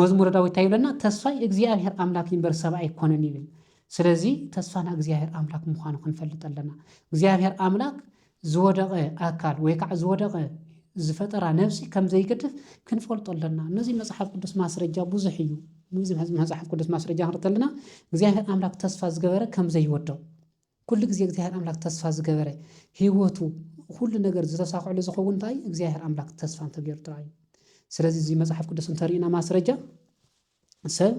መዝሙረ ዳዊት እንታይ ይብለና ተስፋይ እግዚኣብሔር ኣምላክ ይንበር ሰብ ኣይኮነን ይብል ስለዚ ተስፋና እግዚኣብሔር ኣምላክ ምዃኑ ክንፈልጥ ኣለና እግዚኣብሔር ኣምላክ ዝወደቐ ኣካል ወይ ካዓ ዝወደቐ ዝፈጠራ ነብሲ ከም ዘይገድፍ ክንፈልጦ ኣለና። ነዚ መጽሓፍ ቅዱስ ማስረጃ ብዙሕ እዩ። ነዚ መጽሓፍ ቅዱስ ማስረጃ ክንርኢ ከለና እግዚኣብሔር ኣምላክ ተስፋ ዝገበረ ከም ዘይወደቕ ኩሉ ግዜ እግዚኣብሔር ኣምላክ ተስፋ ዝገበረ ህይወቱ ኩሉ ነገር ዝተሳክዐሉ ዝኸውን እንታይ እግዚኣብሔር ኣምላክ ተስፋ እንተገይሩ ጥራይ እዩ። ስለዚ እዚ መጽሓፍ ቅዱስ እንተሪእና ማስረጃ ሰብ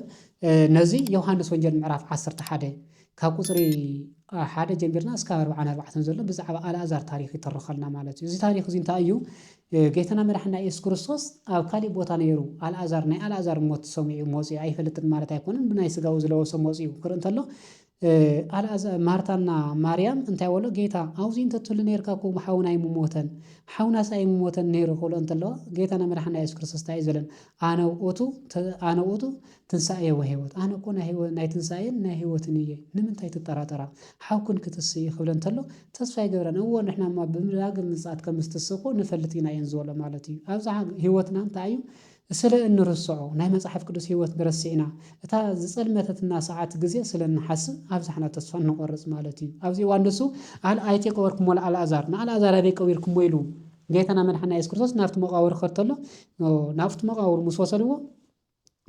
ነዚ ዮሃንስ ወንጌል ምዕራፍ ዓሰርተ ሓደ ካብ ቁጽሪ ሓደ ጀሚርና እስካብ ኣርብዓን ኣርባዕተን ዘሎ ብዛዕባ ኣልኣዛር ታሪኽ ይተርኸልና ማለት እዩ። እዚ ታሪኽ እዚ እንታይ እዩ? ጌታና መድሓና የሱስ ክርስቶስ ኣብ ካሊእ ቦታ ነይሩ ኣልኣዛር ናይ ኣልኣዛር ሞት ሰሚዑ መጺኡ ኣይፈልጥን ማለት ኣይኮነን ብናይ ስጋኡ ዝለበሶ መጺኡ ክርኢ እንተሎ ኣልኣዛ ማርታና ማርያም እንታይ በሎ ጌታ ኣውዚ እንተ ትህሉ ኔርካ እኮ ሓውና ኣይምሞተን ሓውናስ ኣይምሞተን ኔሩ ክብሎ እንተለዋ ጌታና መድሓኒና የሱስ ክርስቶስ እንታይ እዩ ዝበለን ኣነ ውእቱ ተ ኣነ ውእቱ ትንሳኤ ወህይወት ኣነ እኮ ናይ ህይወ ናይ ትንሳኤን ናይ ህይወትን እየ ንምንታይ ትጠራጠራ ሓውክን ክትስ እዩ ክብለን እንተሎ ተስፋ ኣይገብረን እዎ ንሕናማ ብዳግም ምጽኣት ከም ዝትስእ እኮ ንፈልጥ ኢና እየን ዝበሎ ማለት እዩ ኣብዛ ህይወትና እንታይ እዩ ስለ እንርስዖ፣ ናይ መጽሓፍ ቅዱስ ህይወት ንረሲዕና፣ እታ ዝጸልመተትና ሰዓት ግዜ ስለ እንሓስብ፣ ኣብዚሕና ተስፋ እንቖርጽ ማለት እዩ። ኣብዚ እዋን ንሱ፣ ኣል ኣይቴ ቀበርኩሞ ለኣልኣዛር፣ ንኣልኣዛር ኣበይ ቀቢርኩሞ? ኢሉ ጌታና መድሓኒና የሱስ ክርስቶስ ናብቲ መቓብር ክኸድ ተሎ፣ ናብቲ መቓብር ምስ ወሰድዎ፣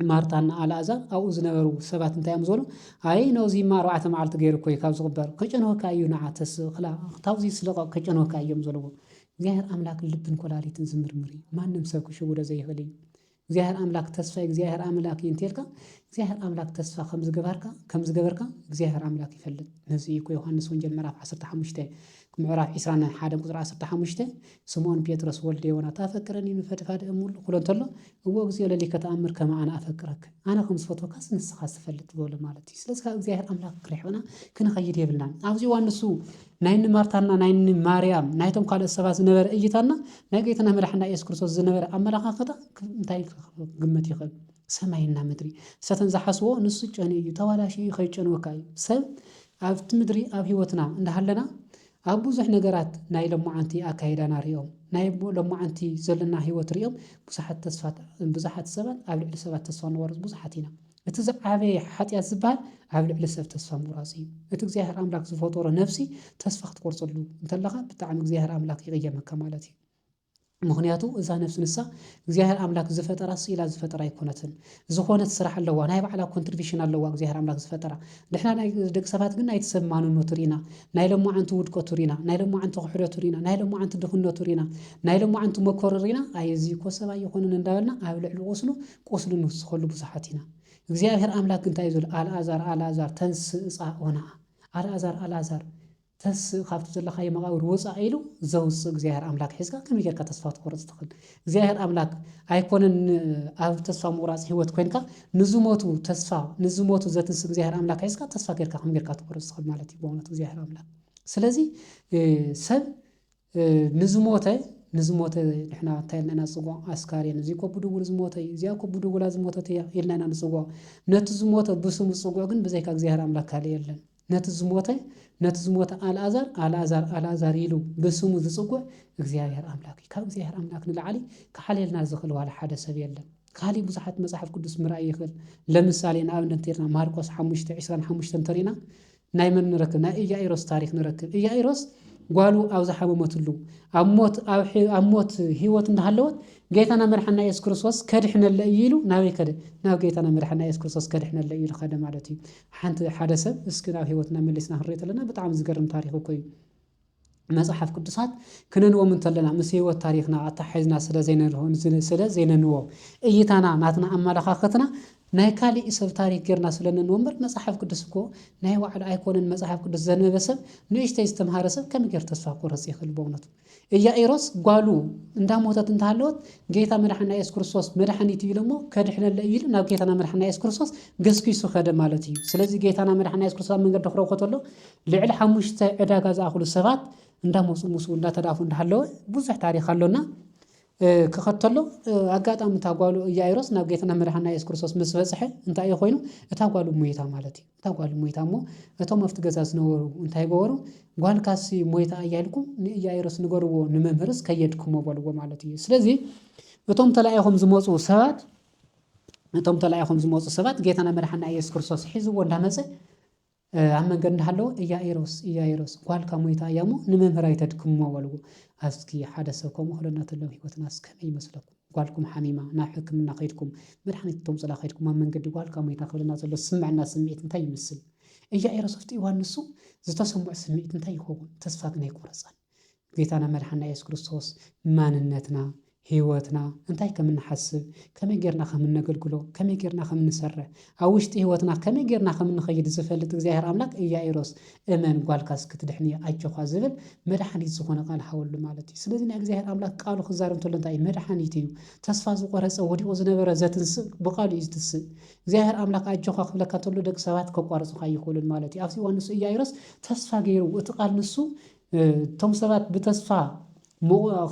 ማርታ እና ኣልኣዛር ኣብኡ ዝነበሩ ሰባት እንታይ እዮም ዝበሉ? ኣይ ነውዚማ ኣርባዕተ መዓልቲ ገይሩ እኮ እዩ ካብ ዝቕበር፣ ከጨንወካ እዩ ንዓ ተስ ክላ ካብዚ ስለቐቕ ከጨንወካ እዮም ዘለዎ። እግዚኣብሔር ኣምላክ ልብን ኮላሊትን ዝምርምር እዩ ማንም ሰብ ክሽውዶ ዘይክእል እዩ እግዚኣብሔር ኣምላክ ተስፋ እግዚኣብሔር ኣምላክ እዩ እንተልካ እግዚኣብሔር ኣምላክ ተስፋ ከም ዝገበርካ ከም ዝገበርካ እግዚኣብሔር ኣምላክ ይፈልጥ ነዚ እዩ እኮ ዮሐንስ ወንጌል ምዕራፍ 15 ምዕራፍ 20 ሓደ ቁፅሪ 15 ስምዖን ጴጥሮስ ወልደ ዮና ታፈቅረኒ ንፈድፋድ እሙሉ ክሎ እንተሎ እዎ እግዚኦ ለሊከ ተኣምር ከም ኣነ ኣፈቅረክ ኣነ ከም ዝፈትወካስ ንስኻ ዝፈልጥ ዝበሎ ማለት እዩ ስለዚ ካብ እግዚኣብሔር ኣምላክ ክሪሕቕና ክንኸይድ የብልናን ኣብዚ ዋንሱ ናይ እኒ ማርታና ናይ እኒ ማርያም ናይቶም ካልኦት ሰባት ዝነበረ እይታና ናይ ጌታና መድሓና ኢየሱስ ክርስቶስ ዝነበረ ኣመለኻኽታ እንታይ ክግመት ይኽእል? ሰማይና ምድሪ ሰተን ዝሓስቦ ንሱ ጨንዩ እዩ ተባላሽ እዩ ከይጨንወካ እዩ ሰብ ኣብቲ ምድሪ ኣብ ህይወትና እንዳሃለና ኣብ ብዙሕ ነገራት ናይ ሎማዓንቲ ኣካይዳና ሪኦም ናይ ሎማዓንቲ ዘለና ህይወት ሪኦም ብዙሓት ተስፋት ብዙሓት ሰባት ኣብ ልዕሊ ሰባት ተስፋ ንቆርፅ ብዙሓት ኢና። እቲ ዝዓበየ ሓጢኣት ዝበሃል ኣብ ልዕሊ ሰብ ተስፋ ምቑራጽ እዩ። እቲ እግዚኣብሔር ኣምላክ ዝፈጠሮ ነብሲ ተስፋ ክትቆርጸሉ እንተለኻ ብጣዕሚ እግዚኣብሔር ኣምላክ ይቕየመካ ማለት እዩ። ምኽንያቱ እዛ ነብሲ ንሳ እግዚኣብሔር ኣምላክ ዝፈጠራ ስኢላ ዝፈጠራ ኣይኮነትን። ዝኾነት ስራሕ ኣለዋ፣ ናይ ባዕላ ኮንትሪቢሽን ኣለዋ እግዚኣብሔር ኣምላክ ዝፈጠራ። ንሕና ናይ ደቂ ሰባት ግን ናይቲ ሰብ ማንነቱ ሪና፣ ናይ ሎማዓንቲ ውድቀቱ ሪና፣ ናይ ሎማዓንቲ ክሕደቱ ሪና፣ ናይ ሎማዓንቲ ድኽነቱ ሪና፣ ናይ ሎማዓንቲ መከሩ ሪና ኣይ እዚ እኮ ሰብ ኣይኾነን እንዳበልና ኣብ ልዕሊ ቁስሉ ቁስሉ ንፍስኸሉ ብዙሓት ኢና። እግዚኣብሔር ኣምላክ ግን እንታይ እዩ ዝብሎ ኣልኣዛር ኣልኣዛር ተንስእ እጻእ ወነኣ ኣልኣዛር ኣልኣዛር ተስእ ካብቲ ዘለካዮ መቃብር ውጻእ ኢሉ ዘውጽእ እግዚኣብሔር ኣምላክ ሒዝካ ከመይ ጌርካ ተስፋ ክትቆርጽ ትኽእል? እግዚኣብሔር ኣምላክ ኣይኮነን ን- ኣብ ተስፋ ምቁራጽ ህይወት ኮንካ ንዝሞቱ ተስፋ ንዝሞቱ ዘትንስ እግዚኣብሔር ኣምላክ ሒዝካ ተስፋ ጌርካ ከመይ ጌርካ ትቆርጽ ትኽእል ማለት እዩ ብእውነት እግዚኣብሔር ኣምላክ ስለዚ እ፣ ሰብ ንዝሞተ ንዝሞተ ንሕና እንታይ ኢልና ኢና ንጽውዖ? ኣስካሬን፣ እዚ እኮ ብድውል ዝሞተ እዩ፣ እዚኣ እኮ ብድውላ ዝሞተት እያ ኢልና ኢና ንጽውዖ። ነቲ ዝሞተ ብስሙ ዝጽውዕ ግን ብዘይካ እግዚኣብሔር ኣምላኽ ካልእ የለን። ነቲ ዝሞተ ነቲ ዝሞተ ኣልኣዛር ኣልኣዛር ኣልኣዛር ኢሉ ብስሙ ዝጽውዕ እግዚኣብሔር ኣምላኽ እዩ። ካብ እግዚኣብሔር ኣምላኽ ንላዕሊ ክሓልየልና ዝኽእል ዋላ ሓደ ሰብ የለን። ካልእ ብዙሓት መጽሓፍ ቅዱስ ምርኣይ ይኽእል። ለምሳሌ ንኣብነት እንተይልና ማርቆስ ሓሙሽተ ዕስራን ሓሙሽተን እንተሪእና ናይ መን ንረክብ ናይ እያኢሮስ ታሪክ ንረክብ እያኢሮስ ጓሉ ኣብ ዝሓመመትሉ ኣብ ሞት ኣብ ሞት ሂወት እንዳሃለወት ጌታና መድሓና የሱስ ክርስቶስ ከድሕነለ እዩ ኢሉ ናበይ ከደ ናብ ጌታና መድሓና የሱስ ክርስቶስ ከድሕነለ እዩ ኢሉ ከደ ማለት እዩ ሓንቲ ሓደ ሰብ እስኪ ናብ ሂወትና መሊስና ክንሪኦ ተለና ብጣዕሚ ዝገርም ታሪክ እኮ እዩ መጽሓፍ ቅዱሳት ክነንቦም እንተለና ምስ ህይወት ታሪኽና ኣተሓሒዝና ስለ ዘይነንሆ ስለ ዘይነንቦ እይታና ናትና ኣመላኻኽትና ናይ ካሊእ ሰብ ታሪኽ ጌርና ስለ ነንቦ እምበር መጽሓፍ ቅዱስ እኮ ናይ ባዕሉ ኣይኮነን መጽሓፍ ቅዱስ ዘንበበ ሰብ ንእሽተይ ዝተምሃረ ሰብ ከመይ ጌር ተስፋ ክቆርጽ ይኽእል በእውነቱ ኢያኢሮስ ጓሉ እንዳሞተት እንተሃለወት ጌታ መድሓና የሱስ ክርስቶስ መድሓኒት እዩ ኢሎሞ ከድሕነለ እዩ ኢሉ ናብ ጌታና መድሓና የሱስ ክርስቶስ ገስጊሱ ከደ ማለት እዩ ስለዚ ጌታና መድሓና የሱስ ክርስቶስ ኣብ መንገዲ ክረኽቦ ተሎ ልዕሊ ሓሙሽተ ዕዳጋ ዝኣኽሉ ሰባት እንዳመፁ ምስኡ እንዳተዳፉ እንዳሃለወ ብዙሕ ታሪክ ኣሎና ክኸተሎ ኣጋጣሚ እታ ጓሉ እያኢሮስ ናብ ጌትና መድሓና የሱስ ክርስቶስ ምስ በፅሐ እንታይ እዩ ኮይኑ እታ ጓሉ ሞይታ ማለት እዩ እታ ጓሉ ሞይታ እሞ እቶም ኣብቲ ገዛ ዝነበሩ እንታይ ገበሩ ጓልካሲ ሞይታ እያ ኢልኩም ንእያኢሮስ ንገርዎ ንመምህርስ ከየድክሞ በልዎ ማለት እዩ ስለዚ እቶም ተላኢኾም ዝመፁ ሰባት እቶም ተላኢኾም ዝመፁ ሰባት ጌታና መድሓና ኢየሱስ ክርስቶስ ሒዝዎ እንዳመፀ ኣብ መንገድ እንዳሃለወ እያኢሮስ እያኢሮስ ጓልካ ሞይታ እያሞ ንመምህር ኣይተድክምዎ በልዎ ኣስኪ ሓደ ሰብ ከምኡ ክብለና ተሎ ኣብ ሂወትናስ ከመይ ይመስለኩም ጓልኩም ሓሚማ ናብ ሕክምና ከይድኩም መድሓኒት ክተምጹላ ከይድኩም ኣብ መንገዲ ጓልካ ሞይታ ክብለና ዘሎ ዝስመዐና ስምዒት እንታይ ይመስል እያኢሮስ ኣፍጢእዋ ንሱ ዝተሰመዖ ስምዒት እንታይ ይኸውን ተስፋ ግን ኣይቆረጸን ጌታና መድሓኒና የሱስ ክርስቶስ ማንነትና፣ ህይወትና፣ እንታይ ከም እንሓስብ፣ ከመይ ጌርና ከም እነገልግሎ፣ ከመይ ጌርና ከም እንሰርሕ፣ ኣብ ውሽጢ ህይወትና ከመይ ጌርና ከም እንኸይድ ዝፈልጥ እግዚኣብሄር ኣምላክ ኢያኢሮስ እመን ጓልካስ ክትድሕን እያ ኣጆኻ ዝብል መድሓኒት ዝኾነ ቃል ሃበሉ ማለት እዩ። ስለዚ ናይ እግዚኣብሄር ኣምላክ ቃሉ ክዛረብ እንተሎ እንታይ እዩ መድሓኒት እዩ። ተስፋ ዝቖረጸ ወዲቑ ዝነበረ ዘትንስእ ብቃሉ እዩ ዝትስእ። እግዚኣብሄር ኣምላክ ኣጆኻ ክብለካ እንተሎ ደቂ ሰባት ከቋርጹኻ ኣይኽእሉን ማለት እዩ። ኣብዚ እዋን ንሱ ኢያኢሮስ ተስፋ ጌሩ እቲ ቃል ንሱ እቶም ሰባት ብተስፋ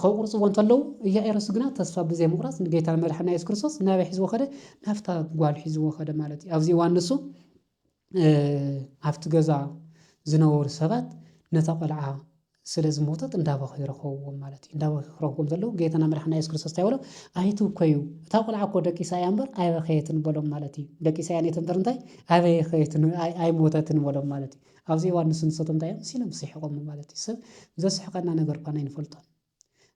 ከቁርጽዎ እንተለዉ ኢያኢሮስ ግና ተስፋ ብዘይምቁራጽ ንጌታን መድሓና የሱስ ክርስቶስ ናበይ ሒዝዎ ከደ ናብታ ጓል ሒዝዎ ከደ ማለት እዩ ኣብዚ እዋን ንሱ ኣብቲ ገዛ ዝነበሩ ሰባት ነታ ቆልዓ ስለ ዝሞተት እንዳበኸ ይረኸብዎም ማለት እዩ እንዳበኸ ክረኽቦም ዘለዉ ጌታና መድሓና የሱስ ክርስቶስ እንታይ በሎ ኣይትብከዩ እታ ቆልዓ እኮ ደቂሳ እያ እምበር ኣይበኸየትን በሎም ማለት እዩ ደቂሳ እያ ኔት እምበር እንታይ ኣይበኸየትን ኣይሞተትን በሎም ማለት እዩ ኣብዚ እዋን ንሱ ንሰቶም እንታይ እዮም መሲሎም ዝስሕቖሙ ማለት እዩ። ሰብ ዘስሕቐና ነገር እኳን ኣይንፈልጦን።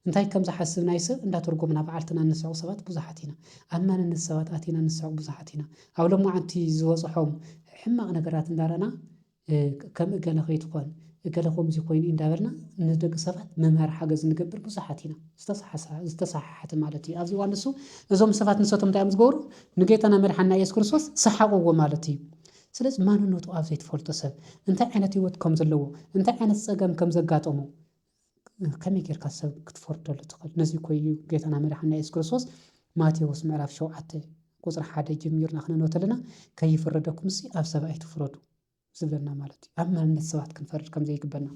እንታይ ከም ዝሓስብ ናይ ሰብ እንዳተርጎምና ብዓልትና እንስሕቕ ሰባት ብዙሓት ኢና። ኣብ ማንነት ሰባት ኣቲና እንስሕቕ ብዙሓት ኢና። ኣብ ሎማዓንቲ ዝበጽሖም ሕማቕ ነገራት እንዳረኣና ከም እገለ ከይትኾን እገለ ከምዚ ኮይኑ እዩ እንዳበልና ንደቂ ሰባት ምምሃር ሓገዝ ንገብር ብዙሓት ኢና። ዝተሰሓሰ ዝተሰሓሓተ ማለት እዩ። ኣብዚ እዋን ንሱ እዞም ሰባት ንሰቶም እንታይ እዮም ዝገብሩ ንጌታና መድሓኒና ኢየሱስ ክርስቶስ ሰሓቕዎ ማለት እዩ። ስለዚ ማንነቱ ኣብ ዘይትፈልጦ ሰብ እንታይ ዓይነት ህይወት ከም ዘለዎ እንታይ ዓይነት ጸገም ከም ዘጋጠሞ ከመይ ጌርካ ሰብ ክትፈርደሉ ትኽእል? ነዚ እኮ እዩ ጌታና መድሓኒና የሱስ ክርስቶስ ማቴዎስ ምዕራፍ ሸውዓተ ቁጽሪ ሓደ ጀሚርና ክነንብብ ከለና ከይፍረደኩምሲ ኣብ ሰብ ኣይትፍረዱ ዝብለና ማለት እዩ። ኣብ ማንነት ሰባት ክንፈርድ ከም ዘይግበና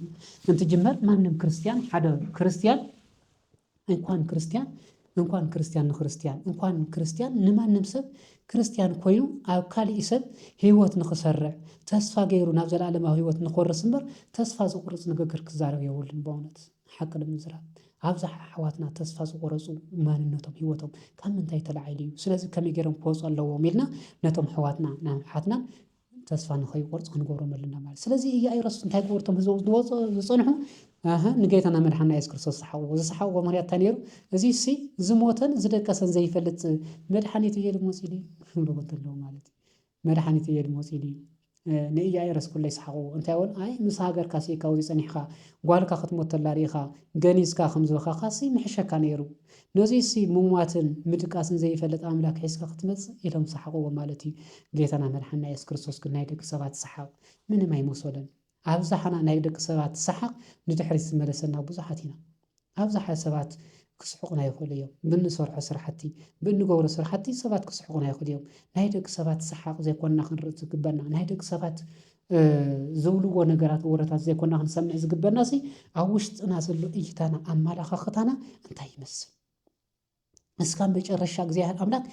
እንትጅመር ማንም ክርስትያን ሓደ ክርስትያን እንኳን ክርስትያን እንኳን ክርስትያን ንክርስትያን እንኳን ክርስትያን ንማንም ሰብ ክርስትያን ኮይኑ ኣብ ካሊእ ሰብ ህይወት ንክሰርዕ ተስፋ ገይሩ ናብ ዘለኣለማዊ ህይወት ንኮርስ እምበር ተስፋ ዝቁርፅ ንግግር ክዛረብ የብሉን በእውነት ሓቂ ንምዝራብ ኣብዛሓ ኣሕዋትና ተስፋ ዝቆረፁ ማንነቶም ሂወቶም ካብ ምንታይ ተላዒሉ እዩ ስለዚ ከመይ ገይሮም ክወፁ ኣለዎም ኢልና ነቶም ኣሕዋትና ንኣሓትናን ተስፋ ንኸይቆርጽ ክንገብሮም ኣለና ማለት እዩ። ስለዚ ኢያኢሮስ እንታይ ክብሉ እቶም ህዝቦም ዝወጽኡ ዝጸንሑ ኣህ ንጌታና መድሓና የሱስ ክርስቶስ ዝሰሓቕዎ ዝሰሓቕዎ ምክንያት እንታይ ነይሩ? እዚሲ ዝሞተን ዝደቀሰን ዘይፈልጥ መድሓኒት እየ ኢሉ መጺኡ ድዩ ክብልዎ እንተለዉ ማለት እዩ። መድሓኒት እየ ኢሉ መጺኡ ድዩ? ንኢያኢሮስ ኩለ ይሰሓቕዎ እንታይ በሉ ኣይ ምስ ሃገርካሲ ካብዚ ጸኒሕካ ጓልካ ክትሞት ተላ ርኢኻ ገኒዝካ ከም ዝበኻካሲ ምሕሸካ ነይሩ። ነዙይሲ ምሟትን ምድቃስን ዘይፈልጥ ኣምላክ ሒዝካ ክትመጽእ ኢሎም ሰሓቅዎ ማለት እዩ ጌታና መድሓንና የሱስ ክርስቶስ ግን ናይ ደቂ ሰባት ሰሓቅ ምንም ኣይመሶሎን ኣብዛሓና ናይ ደቂ ሰባት ሰሓቅ ንድሕሪት ዝመለሰና ብዙሓት ኢና ኣብዛሓ ሰባት ክስሕቁና ይክእሉ እዮም ብንሰርሖ ስራሕቲ ብእንገብሮ ስራሕቲ ሰባት ክስሕቁና ይክእሉ እዮም ናይ ደቂ ሰባት ሰሓቅ ዘይኮንና ክንርኢ ዝግበና ናይ ደቂ ሰባት ዝብልዎ ነገራት ወረታት ዘይኮና ክንሰምዕ ዝግበናሲ ኣብ ውሽጥና ዘሎ እይታና ኣመላኻኽታና እንታይ ይመስል? እስካ መጨረሻ እግዚኣብሔር ኣምላክ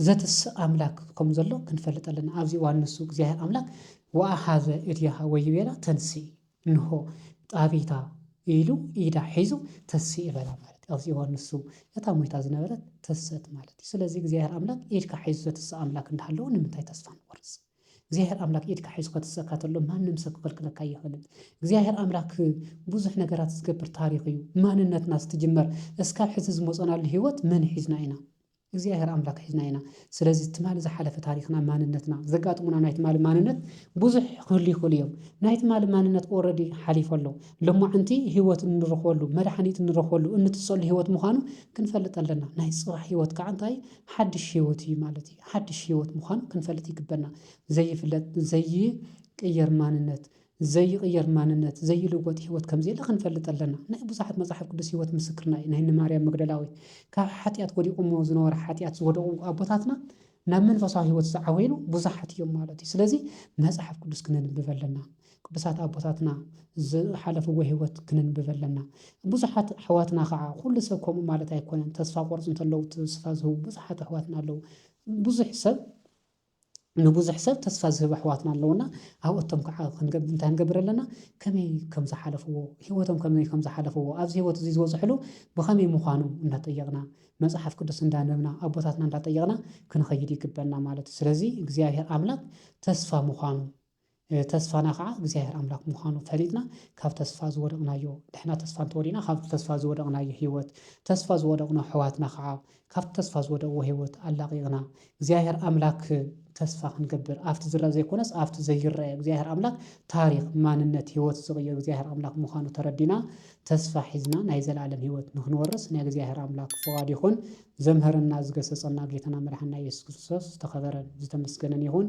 ዘትስእ ኣምላክ ከም ዘሎ ክንፈልጥ ኣለና ኣብዚ እዋን ንሱ እግዚኣብሔር ኣምላክ ወኣሃዘ እዴሃ ወይቤላ ተንሲ እንሆ ጣቢታ ኢሉ ኢዳ ሒዙ ተሲ በላ ማለት እዩ። ኣብዚ እዋን ንሱ እታ ሞይታ ዝነበረት ተሰት ማለት እዩ። ስለዚ እግዚኣብሔር ኣምላክ ኢድካ ሒዙ ዘትስእ ኣምላክ እንዳሃለወ ንምንታይ ተስፋ ንቆርፅ? እግዚኣብሔር ኣምላክ ኢድካ ሒዙ ከትሰካ ተሎ ማንም ሰብ ክክልክለካ ኣይክእልን እግዚኣብሔር ኣምላክ ብዙሕ ነገራት ዝገብር ታሪክ እዩ ማንነትና ዝትጅመር እስካብ ሕዚ ዝመፆናሉ ህይወት መን ሒዝና ኢና እግዚኣብሔር ኣምላክ ሒዝና ኢና ስለዚ ትማሊ ዝሓለፈ ታሪክና ማንነትና ዘጋጥሙና ናይ ትማሊ ማንነት ብዙሕ ክህሉ ይኽእሉ እዮም ናይ ትማሊ ማንነት ኦረዲ ሓሊፎ ኣሎ ሎማዕንቲ ህይወት እንረኽበሉ መድሓኒት እንረኽበሉ እንትሰሉ ህይወት ምዃኑ ክንፈልጥ ኣለና ናይ ፅባሕ ህይወት ከዓ እንታይ ሓድሽ ህይወት እዩ ማለት እዩ ሓድሽ ህይወት ምዃኑ ክንፈልጥ ይግበና። ዘይፍለጥ፣ ዘይቅየር ማንነት፣ ዘይቕየር ማንነት፣ ዘይልወጥ ህይወት ከም ዘየለ ክንፈልጥ ኣለና። ናይ ብዙሓት መጽሓፍ ቅዱስ ህይወት ምስክርና እዩ። ናይ እነ ማርያም መግደላዊት ካብ ሓጢኣት ወዲቖሞ ዝነበረ ሓጢኣት ዝወደቑ ኣቦታትና ናብ መንፈሳዊ ህይወት ዝዓበይሉ ብዙሓት እዮም ማለት እዩ። ስለዚ መጽሓፍ ቅዱስ ክነንብብ ኣለና። ቅዱሳት ኣቦታትና ዝሓለፍዎ ህይወት ክንንብብ ኣለና። ብዙሓት ኣሕዋትና ከኣ ኩሉ ሰብ ከምኡ ማለት ኣይኮነን ተስፋ ቆርጹ እንተለዉ ተስፋ ዝህቡ ብዙሓት ኣሕዋትና ኣለዉ። ብዙሕ ሰብ ንብዙሕ ሰብ ተስፋ ዝህብ ኣሕዋትና ኣለዉና ኣብኦቶም ከኣ ክንገብር እንታይ ክንገብር ኣለና ከመይ ከም ዝሓለፍዎ ህይወቶም ከመይ ከም ዝሓለፍዎ ኣብዚ ህይወት እዚ ዝበጽሕሉ ብኸመይ ምዃኑ እናጠየቕና መጽሓፍ ቅዱስ እንዳንበብና ኣቦታትና እንዳጠየቕና ክንኸይድ ይግበና ማለት እዩ። ስለዚ እግዚኣብሔር ኣምላኽ ተስፋ ምዃኑ ተስፋና ከኣ እግዚኣብሔር ኣምላክ ምዃኑ ፈሊጥና ካብ ተስፋ ዝወደቅናዮ ንሕና ተስፋ እንተወዲእና ካብቲ ተስፋ ዝወደቅናዮ ህይወት ተስፋ ዝወደቅኖ ኣሕዋትና ከኣ ካብቲ ተስፋ ዝወደቅዎ ህይወት ኣላቂቅና እግዚኣብሔር ኣምላክ ተስፋ ክንገብር ኣብቲ ዝርኣ ዘይኮነስ ኣብቲ ዘይርኣ እግዚኣብሔር ኣምላክ ታሪክ ማንነት ህይወት ዝቅይር እግዚኣብሔር ኣምላክ ምዃኑ ተረዲእና ተስፋ ሒዝና ናይ ዘላለም ህይወት ንክንወርስ ናይ እግዚኣብሔር ኣምላክ ፍቃዱ ይኩን ዘምህረና ዝገሰጸና ጌታና መድሓኒና ኢየሱስ ክርስቶስ ዝተከበረን ዝተመስገነን ይኩን።